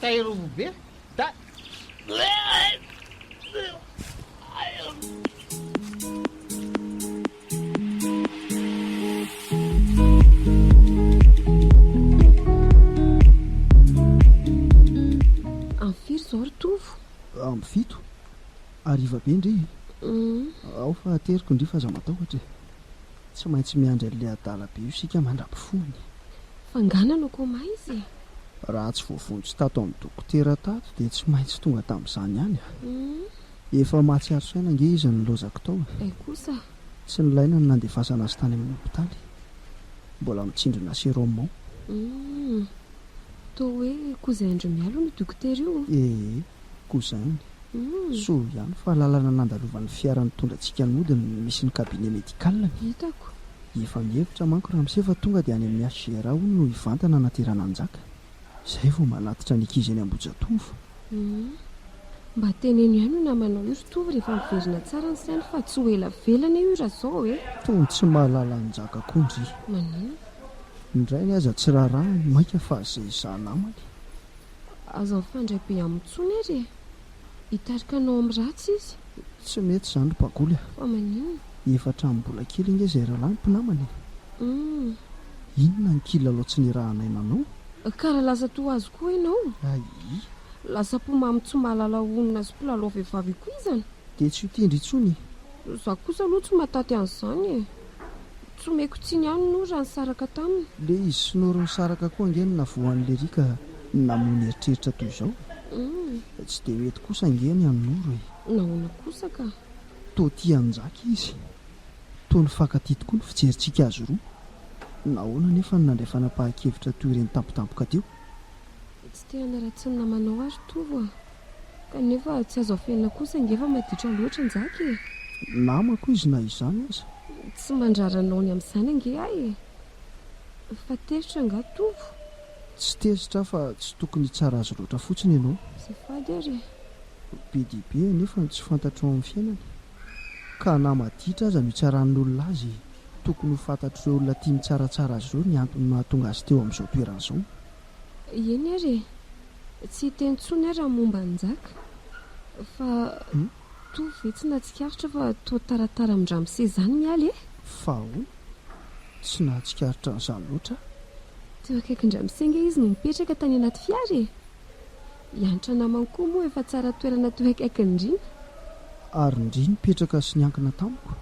Tay robo be da Amby firy izao ry Tovo? Amby fito. Hariva be ndry e. Ao faha teriko ndry f'aza matahotra e. Tsy maintsy miandry an'ilay adala be io isika mandra-pifony. F'angana no koma izy e? Raha tsy voavonjy tato amin'ny dokotera tato dia tsy maintsy tonga tamin'izany ihany a! Efa mahatsiaro saina ange izy nilaozako tao e! Hay kosa! Tsy nilaina ny nandefasana azy tany amin'ny hopitaly. Mbola mitsindrona sérum ao. Humm! Toa hoe koa izay andry mialo io dokotera io! Ee! Koa izany. Soa ihany fa lalana nandalovan'ny fiara nitondra antsika nody no misy ny cabinet médical ny. Hitako. Efa mihevitra manko ramose fa tonga dia any amin'ny HGRA hono no hivantana anaty rananjaka. Izay vao manatitra ny ankizy eny Ambohijatovo. Mba teneno ihany io namanao io ry tovo rehefa miverina tsara ny sainy fa tsy ho ela velany io raha izao e! Tony tsy mahalala anjaka koa ndry. Maninona? Ny rainy aza tsy rarahiny, mainka fa izay izaha namany. Aza mifandray be aminy intsony ary e! Hitarika anao amin'ny ratsy izy. Tsy mety izany ry Bagoly a! Fa maninona? Efa hatramin'ny mbola kely ange izay rahalahy mpinamana e! Humm. Inona ny kilalao tsy nirahanay nanao? Kara lasa toa azy koa ianao? Ayy. Lasa mpomamy tsy mahalala honina sy mpilalao vehivavy ikoizana. Dia tsy ho tendry intsony e! Za kosa aloha tsy mahataty an'izany e! Tsy omeko tsiny ihany Nour raha nisaraka taminy. Le izy sy Nour nisaraka koa ange no navoa an'i Lery ka namono eritreritra toy izao e! Tsy dia mety kosa ange ny an'i Nour e! Nahoana kosa ka? Toa tia an'i Njaky izy. Toa nifankatia tokoa ny fijerintsika azy roa. Nahoana anefa no nandray fanapahan-kevitra toy ireny tampotampoka teo? Tsy te hanaratsy ny namanao aho ry Tovo a! Kanefa tsy azo afenina kosa ange fa maditra loatra Njaky e! Namako izy na izany aza. Tsy mandrara anao ny amin'izany ange aho e! Fa tezitra angaha Tovo? Tsy tezitra aho fa tsy tokony hitsara azy loatra fotsiny ianao. Azafady ary e! Be dia be anefa ny tsy fantatro ao amin'ny fiainany ka na maditra aza no hitsaran'ny olona azy e! Tokony ho fantatr'ireo olona tia mitsaratsara azy ireo ny antony mahatonga azy teo amin'izao toerana izao. Eny ary e! Tsy hita intsony ary ny momba an'i Njaka. Fa toa ve tsy nahatsikaritra fa toa taratara amin-dRamose izany Mialy e? Fa ahoana? Tsy nahatsikaritra an'izany loatra aho. Teo akaikin-dRamose ange izy no mipetraka tany anaty fiara e! Hiantra namany koa moa efa tsara toerana teo akaikin'i Ndrina. Ary Ndry nipetraka sy niankina tamiko?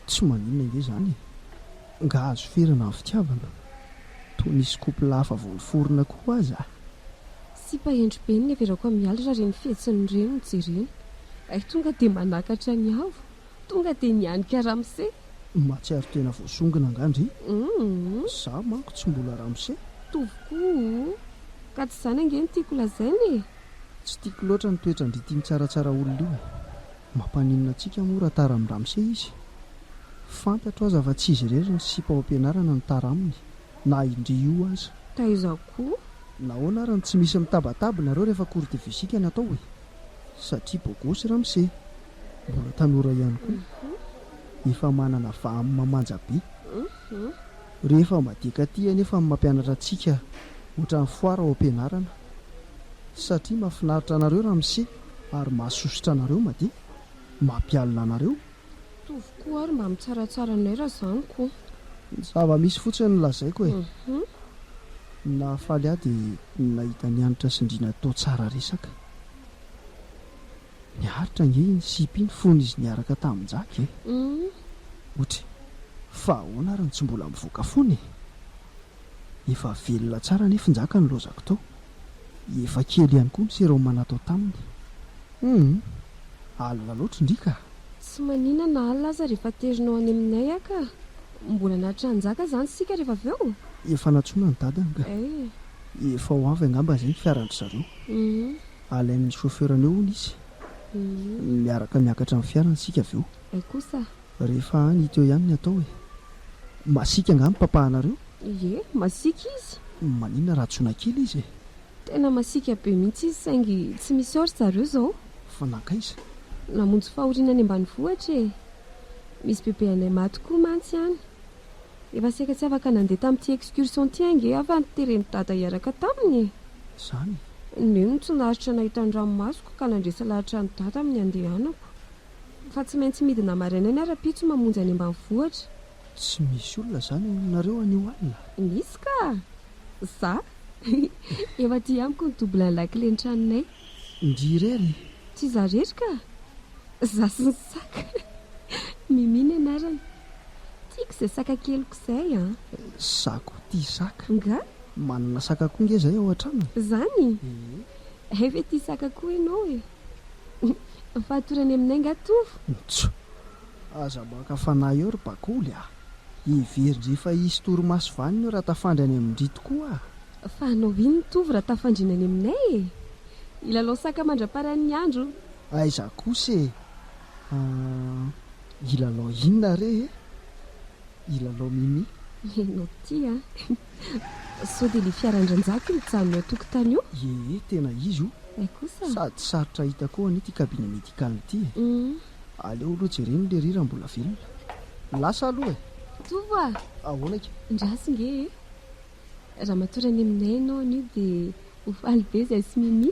Tsy maninona ange izany e! Nga azo ferana ny fitiavana? Toa nisy couple hafa vao niforona koa aza. Sipa hendry be no neverako am ialy ra reny fihetsiny reny no jerena. Hay tonga de manakatra ny avo, tonga de nianika ramose. Mahatsiaro tena voasongona angaha ndry? Za manko tsy mbola ramose. Mitovy koa o! Ka tsy izany ange no tiako lazaina e! Tsy tiako loatra ny toetran-dry tim tsaratsara olona io e! Mampaninona antsika moa raha tara amin-dRamose izy? Fantatro aza fa tsy izy irery ny sipa ao am-pianarana no tara aminy, na indry io aza. Taiza koa? Nahoana ary no tsy misy mitabataba nareo rehefa cours de physique no atao e? Satria bogosy Ramose. Mbola tanora ihany koa. Efa manana vaha amin'ny mamanja be. Rehefa madiaka aty anefa ny mampianatra antsika ohatran'ny foara ao am-pianarana. Satria mahafinaritra anareo Ramose. Ary mahasosotra anareo Madia mampialona anareo. Mitovy koa ary mba mitsaratsara anay raha zany koa. Zava misy fotsiny no lazaiko e. Ny nahafaly ahy dia ny nahita an'i Hanitra sy Ndrina toa tsara resaka. Niaritra ange iny sipa iny fony izy niaraka tamin'i Njaky e. Ohatry fa ahoana ary no tsy mbola mivoaka fona e. Efa velona tsara anefa i Njaka nilaozako tao. Efa kely ihany koa ny seroma natao taminy. Humm! Alina loatra ndry ka! Tsy manina na alina aza rehefa aterinao any aminay aho ka! Mbola natra Njaka izany isika rehefa avy eo? Efa nantsoina ny dadany ka! Eh! Efa ho avy angamba izay ny fiaran-dry zareo. Humm! Alain'ny chauffeur-ny eo hono izy. Humm! Miaraka miakatra amin'ny fiarany isika avy eo. Ay kosa! Rehefa any teo ihany ny atao e! Masiaka angaha ny papahanareo? Ie, masiaka izy. Maninona raha tsoina kely izy e? Tena masiaka be mihitsy izy saingy tsy misy ao ry zareo izao. Fa nankaiza? Namonjy fahoriana any ambanivohitra e! Misy bebe anay maty koa mantsy any. Efa saika tsy afaka nandeha tamin'ity excursion ity ange aho fa noteren'i Dada hiaraka taminy e! Izany? Neny no tsy naharitra nahita ny ranomasoko ka nandresy lahatra an'i Dada amin'ny handehanako. Fa tsy maintsy midina maraina ny ara-pitso mamonjy any ambanivohitra. Tsy misy olona izany ao aminareo anio alina? Misy ka! Za! Eo aty amiko ny doublen'ny lakile ny tranonay. Ndry irery? Tsy za irery ka! Za sy ny saka! Mimi ny anarany. Tiako izay saka keliko izay an! Za koa tia saka. Nga? Manana saka koa nge izay ao an-tranony? Zany? Ee. Hay ve tia saka koa ianao e? Fahatorany aminay nga tovo? Ntsoo! Aza maka fanahy eo ry bakoly a! Heverin-dry efa hisy torimaso vanona eo raha tafandry any amin-dry tokoa a! Fa hanao inona tovo raha tafandrina any aminay e? Hilalao saka mandra-paran'ny andro! Aiza kosa e! Hilalao inona re e? Hilalao mimi? Ianao tia a! Sao dia ilay fiara an-dRanjako mijanona ao an-tokotany eo? Ie, tena izy io. Hay kosa. Sady sarotra hita koa anie ity cabinet médical ity e. Aleo aloha jerena ilay ry raha mbola velona. Lasa aloha e. Tovo a! Ahoana ika? Ndraso nge e. Ramatoa Raneminay ianao anio dia ho faly be izahay sy Mimi.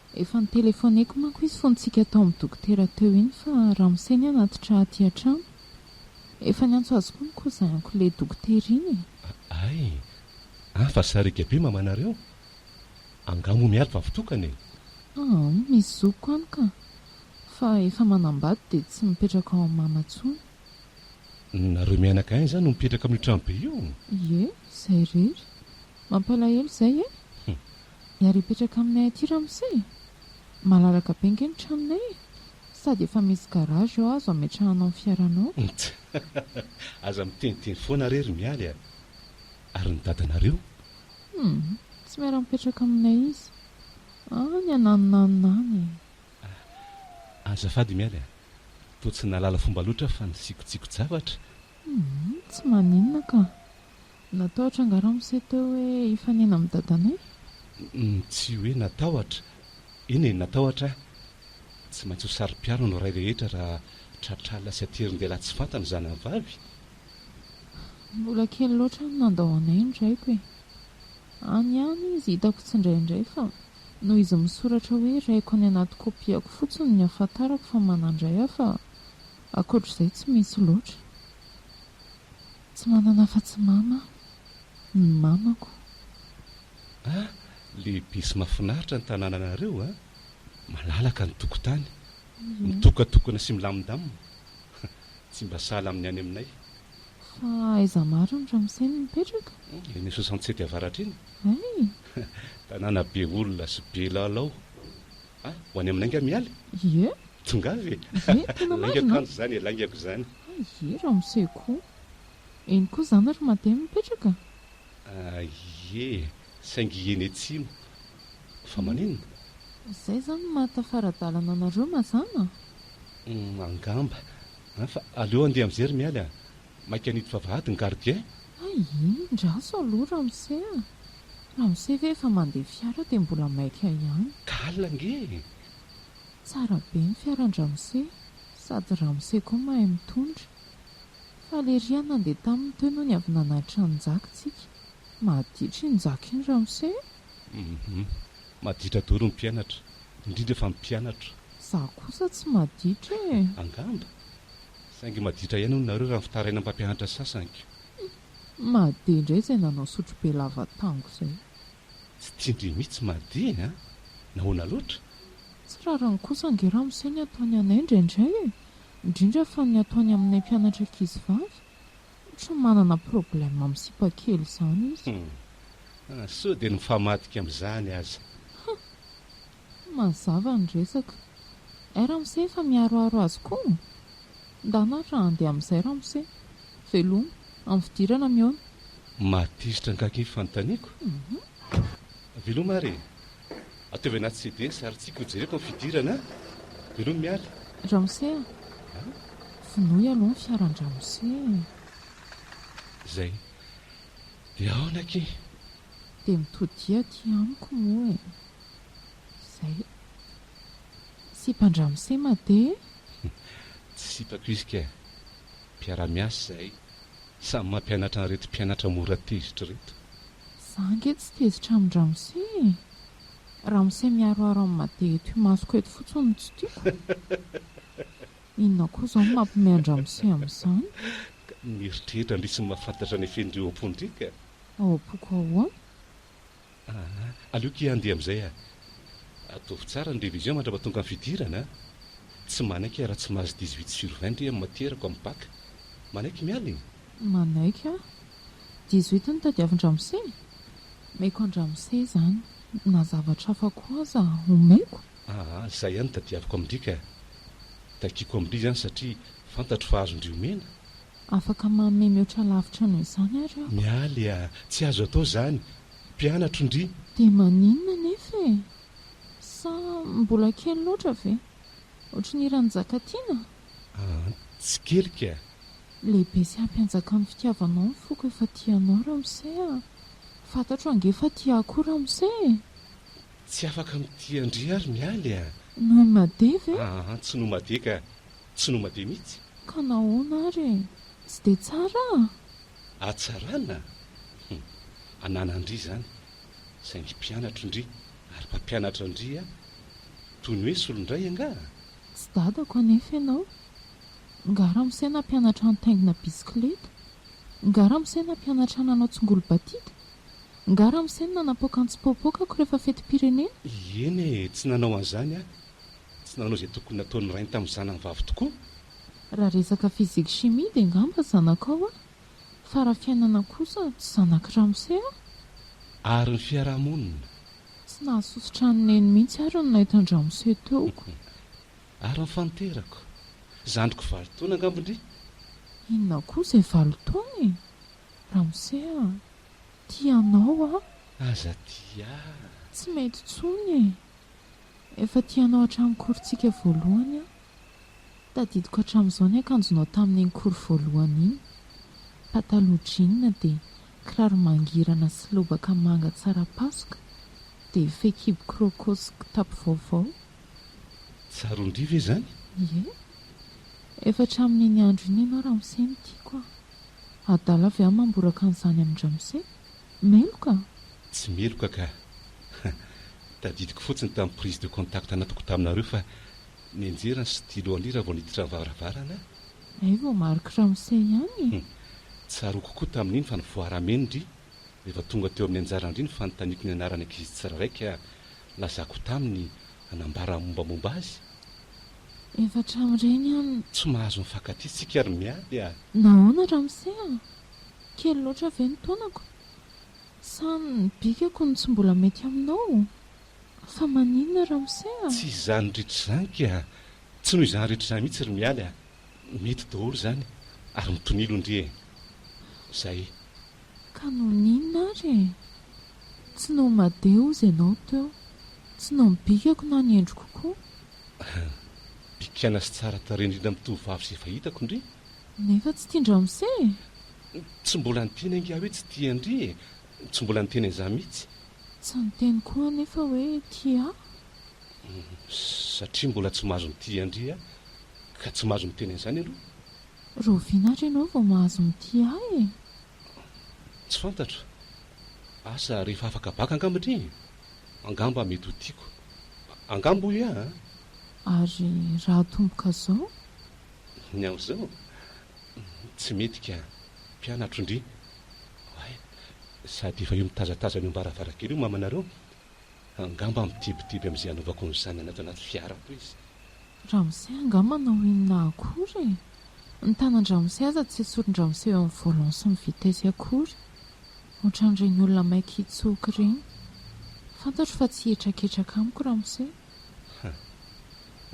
Efa notelefoneko manko izy fontsika tao amin'ny dokotera teo iny fa ramose ny hanatitra aty an-trano. Efa niantso azy koa ny cousin-ko le dokotera iny e! Aay! An fa sariaka be mamanareo? Angaha moa miady vavy tokana e! Aa! Misy zokiko any ka! Fa efa manambady dia tsy mipetraka ao amin'ny mama intsony. Nareo mianaka any izany no mipetraka amin'io trano be io? Ie! Izay irery! Mampalahelo izay e! Hum! Ny ary hipetraka aminay aty ramose e! Malalaka be ange ny tranonay e! Sady efa misy garage eo azo ametrahanao ny fiaranao. Ntsy! Aza miteniteny foana re ry Mialy a! Ary ny dadanareo? Humm! Tsy miara-mipetraka aminay izy. Any an'aninanina any e! Ah! Azafady i Mialy a! Toa tsy nahalala fomba loatra aho fa nisikotsiko-javatra. Humm! Tsy maninona ka! Natahotra angaha ramose teo hoe hifanena amin'i dadanay? Tsy hoe natahotra. Eny e, natahotra aho. Tsy maintsy ho saro-piaro ny ray rehetra raha tratr'alina sy atirin-dehilahy tsy fantany zanany vavy. Mbola kely loatra no nandao anay ny raiko e. Any ihany izy hitako tsindraindray fa noho izy misoratra hoe raiko any anaty kopiako fotsiny no nihafantarako fa manan-dray aho fa ankoatr'izay tsy misy loatra. Tsy manana afa-tsy mama ny mamako. A, lehibe sy mahafinaritra ny tanànanareo a! Malalaka ny tokotany, mitokatokana sy milamindamina. Tsy mba sahala amin'ny any aminay. Fa aiza mariny ramose no mipetraka? Eny soixante sept avaratra eny. Hay! Tanàna be olona sy be lalao. Ah, ho any aminay nga miala e? Ie. Tongava e! Ie, tena marina. Lainga kanjo zany e, laingako izany. Ie, ramose koa. Eny koa zany ry Mate no mipetraka? Ah, ie, saingy eny atsimo. Fa maninona? Zay zany ny maha tafara-dalana anareo mazàna? Hum, angamba. Ah, fa aleo andeha amizay ry mialy ah. Maika an'ito vavahady ny gardien. Hay indraso aloha ramose a! Ramose ve efa mandeha fiara dia mbola maika ihany. Ka alina ange e! Tsara be ny fiaran-dramose sady ramose koa mahay mitondra. Faly ery aho nandeha taminy teo nony avy nanatitra an'i Njaky tsika. Maditra iny Njaky iny ramose e! Hum maditra doro ny mpianatra, indrindra fa ny mpianatro. Za kosa tsy maditra e! Angamba. Saingy maditra ihany hono nareo raha fitarainan'ny mpampianatra sasany ko. Humm Made indray izay nanao sotrobe lava tango izay. Tsy tian-dry mitsy Made a! Nahoana loatra? Tsy rariny kosa ange ramose ny ataony anay indraindray e! Indrindra fa ny ataony aminay mpianatra ankizivavy! Ohatran'ny manana problème amin'ny sipa kely izany izy. Humm! Sao dia ny mifamadika amin'izany aza. Humm! Tsy mazava ny resaka. Ay ramose efa miharoharo azy koa? Ndana ary raha handeha amin'izay ramose. Veloma, amin'ny fidirana mihaona. Mahatezitra angaha anie fanontaniako? Veloma ary e! Ataovy anaty CDS ary tsiky ho jereko amin'ny fidirana a! Veloma Mialy. Ramose a! Vonoy aloha ny fiaran-dramose e! Izay. Dia aona akia? Dia mitodiha aty amiko moa e! Zay. Sipan-dramose made e! Tsy sipako izy kay. Mpiara-miasa izahay, samy mampianatra an'ireto mpianatra mora tezitra ireto. Za ange tsy tezitra amin-dramose e! Ramose miharoharo amin'ny made eto imasoko eto fotsiny no tsy tiako. Inona koa izao no mampihomehy an-dramose amin'izany? Ka mieritreritra ndry tsy mahafantatra ny fenindreo am-pondry ka! Ao am-poko ahoana? Aa, aleoko hiandeha amin'izay aho. Ataovy tsara ny révision mandrapatonga ny fidirana a! Tsy manaiky aho raha tsy mahazo dix huit sur vingt ndry amin'ny matièrako amin'ny bac. Manaiky miala e! Manaiky aho. Dix huit no tadiavin-dramose e! Omeko an-dramose izany, na zavatra hafa koa aza omeko. Aa, izay ihany no tadiaviko amin-dry ka! Takiako amin-dry izany satria fantatro fa azon-dry omena, Afaka manome mihoatra lavitra noho izany ary aho. Mialy a! Tsy azo atao izany. Mpianatro ndry. Dia maninona anefa e? Sa mbola kely loatra ve? Ohatry ny hiran'i Njakatiana? An! Tsikelika! Lehibe sy hampianjaka amin'ny fitiavanao ny foko efa tia anao ramose a! Fantatro ange fa tia ahy koa ramose e! Tsy afaka mitia an-dry ary Mialy a! Noho i Made ve? An! Tsy noho Made ka! Tsy noma be mihitsy. Ka nahoana ary e? Tsy dia tsara a! Hatsarana? Hum, ananan'ndry izany, saingy mpianatro ndry ary mpampianatra ndry a! Toy ny hoe solon-dray angaha? Tsy dadako anefa ianao. Nga ramose nampianatra nitaingina bisikileta? Nga ramose nampianatra nanao tsingolo-batita? Nga ramose no nanapoaka ny tsipôpôkako rehefa fetim-pirenena? Ieny e, tsy nanao an'izany aho. Tsy nanao izay tokony nataon'ny rainy tamin'ny zanany vavy tokoa. Raha resaka physique chimie dia angamba zanakao a! Fa raha fiainana kosa tsy zanak'i Ramose a! Ary ny fiarahamonina? Tsy nahazo sosotra an'i Neny mihitsy ary ny nahita an-dRamose teo ko! Ary ny faninterako? Zandriko valo taona angamba ndry! Inona koa izay valo taona e! Ramose a! Tia anao aho! Aza tia ahy! Tsy mety intsony e! Efa tianao hatramin'ny korontsika voalohany aho. Tadidiko hatramin'izao ny akanjonao tamin'ny iny kory voalohany iny. Pataloha jean dia kiraro mangirana sy lobaka manga tsara pasoka dia fehikibo croco sy kitapo vaovao. Tsaron-dry ve izany? Ie. Efa hatramin'iny andro iny ianao ramose no tiako a! Adala ve aho mamboraka an'izany amin-dramose? Meloka? Tsy meloka ka. Tadidiko fotsiny tamin'ny prise de contact nataoko taminareo fa nenjera ny stylo an'I raha vao niditra ny varavarana. Hay vao Marc Ramose ihany e! Tsaroako kokoa tamin'iny fa nivoarameny ndry rehefa tonga teo amin'ny anjara ndry ny fanontaniako ny anaran'ny ankizy tsirairay ka lazako taminy hanambara mombamomba azy. Efa hatramin'ireny an. Tsy mahazo mifankatia tsika ary miady a! Nahoana Ramose a! Kely loatra ve ny taonako? Sa ny bikako no tsy mbola mety aminao? Fa maninona Ramose a! Tsy izany rehetra izany ka! Tsy noho izany rehetra izany mihitsy ry Mialy a! Mety daholo izany ary mitonilo ndry e! Izay. Ka noho ny inona ary e? Tsy noho ny made hozy ianao teo. Tsy noho ny bikako na ny endriko koa. Bikana sy tsara tarehy indrindra amin'ny tovovavy izay efa hitako ndry! Nefa tsy tian-dry ramose e! Tsy mbola niteny angaha hoe tsy tian-dry e! Tsy mbola niteny an'izany mihitsy. Tsy niteny koa anefa hoe tia ahy. Satria mbola tsy mahazo mitia an-dry aho ka tsy mahazo miteny an'izany aloha. Rahoviana ary ianao vao mahazo mitia ahy e? Tsy fantatro. Asa rehefa afaka baka angamba ndry e! Angamba mety ho tiako. Angamba hoy aho a! Ary raha atomboka izao? Ny aho izao? Tsy mety ka, mpianatro ndry. Oay, sady efa eo mitazatazana eo am-baravarankely eo mamanareo. Angamba mitibitiby amin'izay hanaovako ny zanany ato anaty fiarako izy. Ramose angaha manao inona akory e? Ny tanan-dramose aza tsy esorin-dramose eo amin'ny volant sy ny vitesse akory. Ohatran'ireny olona maika hitsoka ireny. Fantatro fa tsy hihetraketraka amiko ramose. Ha!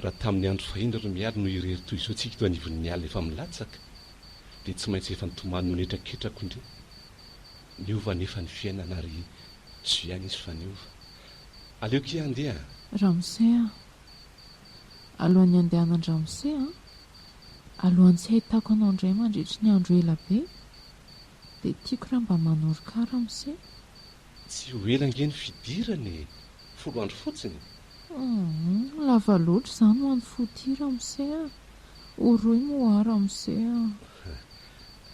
Raha tamin'ny andro fahiny ry Mialy no irery toy izao tsika eto anivon'ny ala efa milatsaka, dia tsy maintsy efa nitomany noho ny hetraketrako indray. Niova anefa ny fiainana ary soa ihany izy fa niova. Aleoko hiha handeha an! Ramose a! Alohan'ny handehanan-dRamose an! Alohan'ny tsy hahitako anao indray mandritry ny andro ela be, dia tiako raha mba manoroka ahy Ramose Tsy ho ela ange ny fidirana e! Folo andro fotsiny? Humm, lava loatra izany ho an'i Footy ramose a! Ho rohy moa hoa ramose a!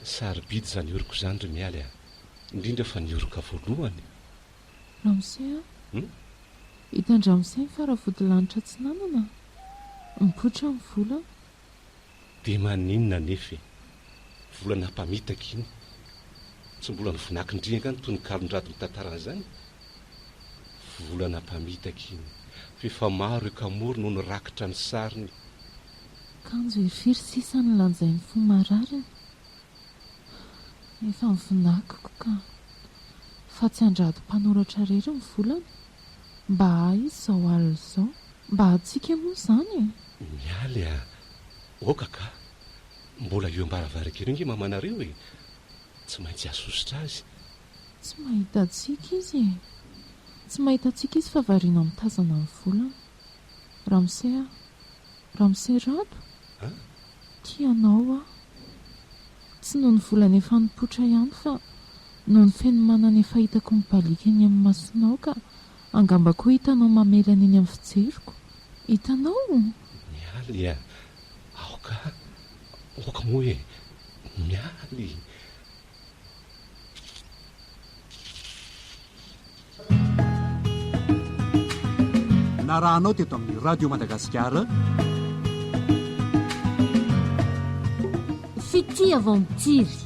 Sarobidy izany oroko izany ry Mialy a! Indrindra fa ny oroka voalohany! Ramose a! Humm? Hitan-dramose ny faravodilanitra atsinanana a! Mipoitra ny vola Dia maninona anefa e? Volana mpamitaka iny. Tsy mbola nivonakindry angaha ny tononkalon-dRado mitantara an'izany? Volana mpamitaka iny, f'efa maro i Kamory no nirakitra ny sariny. Kanjo e firy sisa ny lanjain'ny fo marariny? Efa nivinakiko ka. Fa tsy an-dRado mpanoratra irery ny volana? Mba ahy izao alina izao. Mba antsika moa izany e! Mialy a! Oka ka! Mbola eo am-baravarankely eo ange mamanareo e! Tsy maintsy hahasosotra azy. Tsy mahita antsika izy e! Tsy mahita antsika izy fa variana mitazana ny volana. Ramose a! Ramose Rado! Tia anao aho! Tsy noho ny volana efa nipoitra ihany fa noho ny feno manana efa hitako mibaliaka eny amin'ny masonao ka angamba koa hitanao mamelana eny amin'ny fijeriko! Hitanao? Mialy a! Aoka, aoka moa e! Mialy! narahanao teto amin'ny radio madagasikara fitia vao mitsiry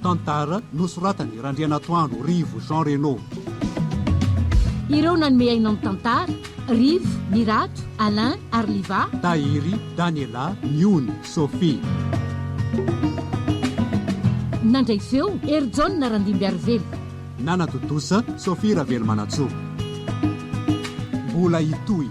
tantara nosoratany randrianatoandro rivo jean reno ireo nanome aina amin'ny tantara Rivo, Mirato, Alain, ary Liva. Tahiry, Daniela, Miony, Sophie. Nandray feo, Hery Jaona Randimbiarivelo. Nana tontosa, Sophie Ravelomanantsoa. Mbola hitohy.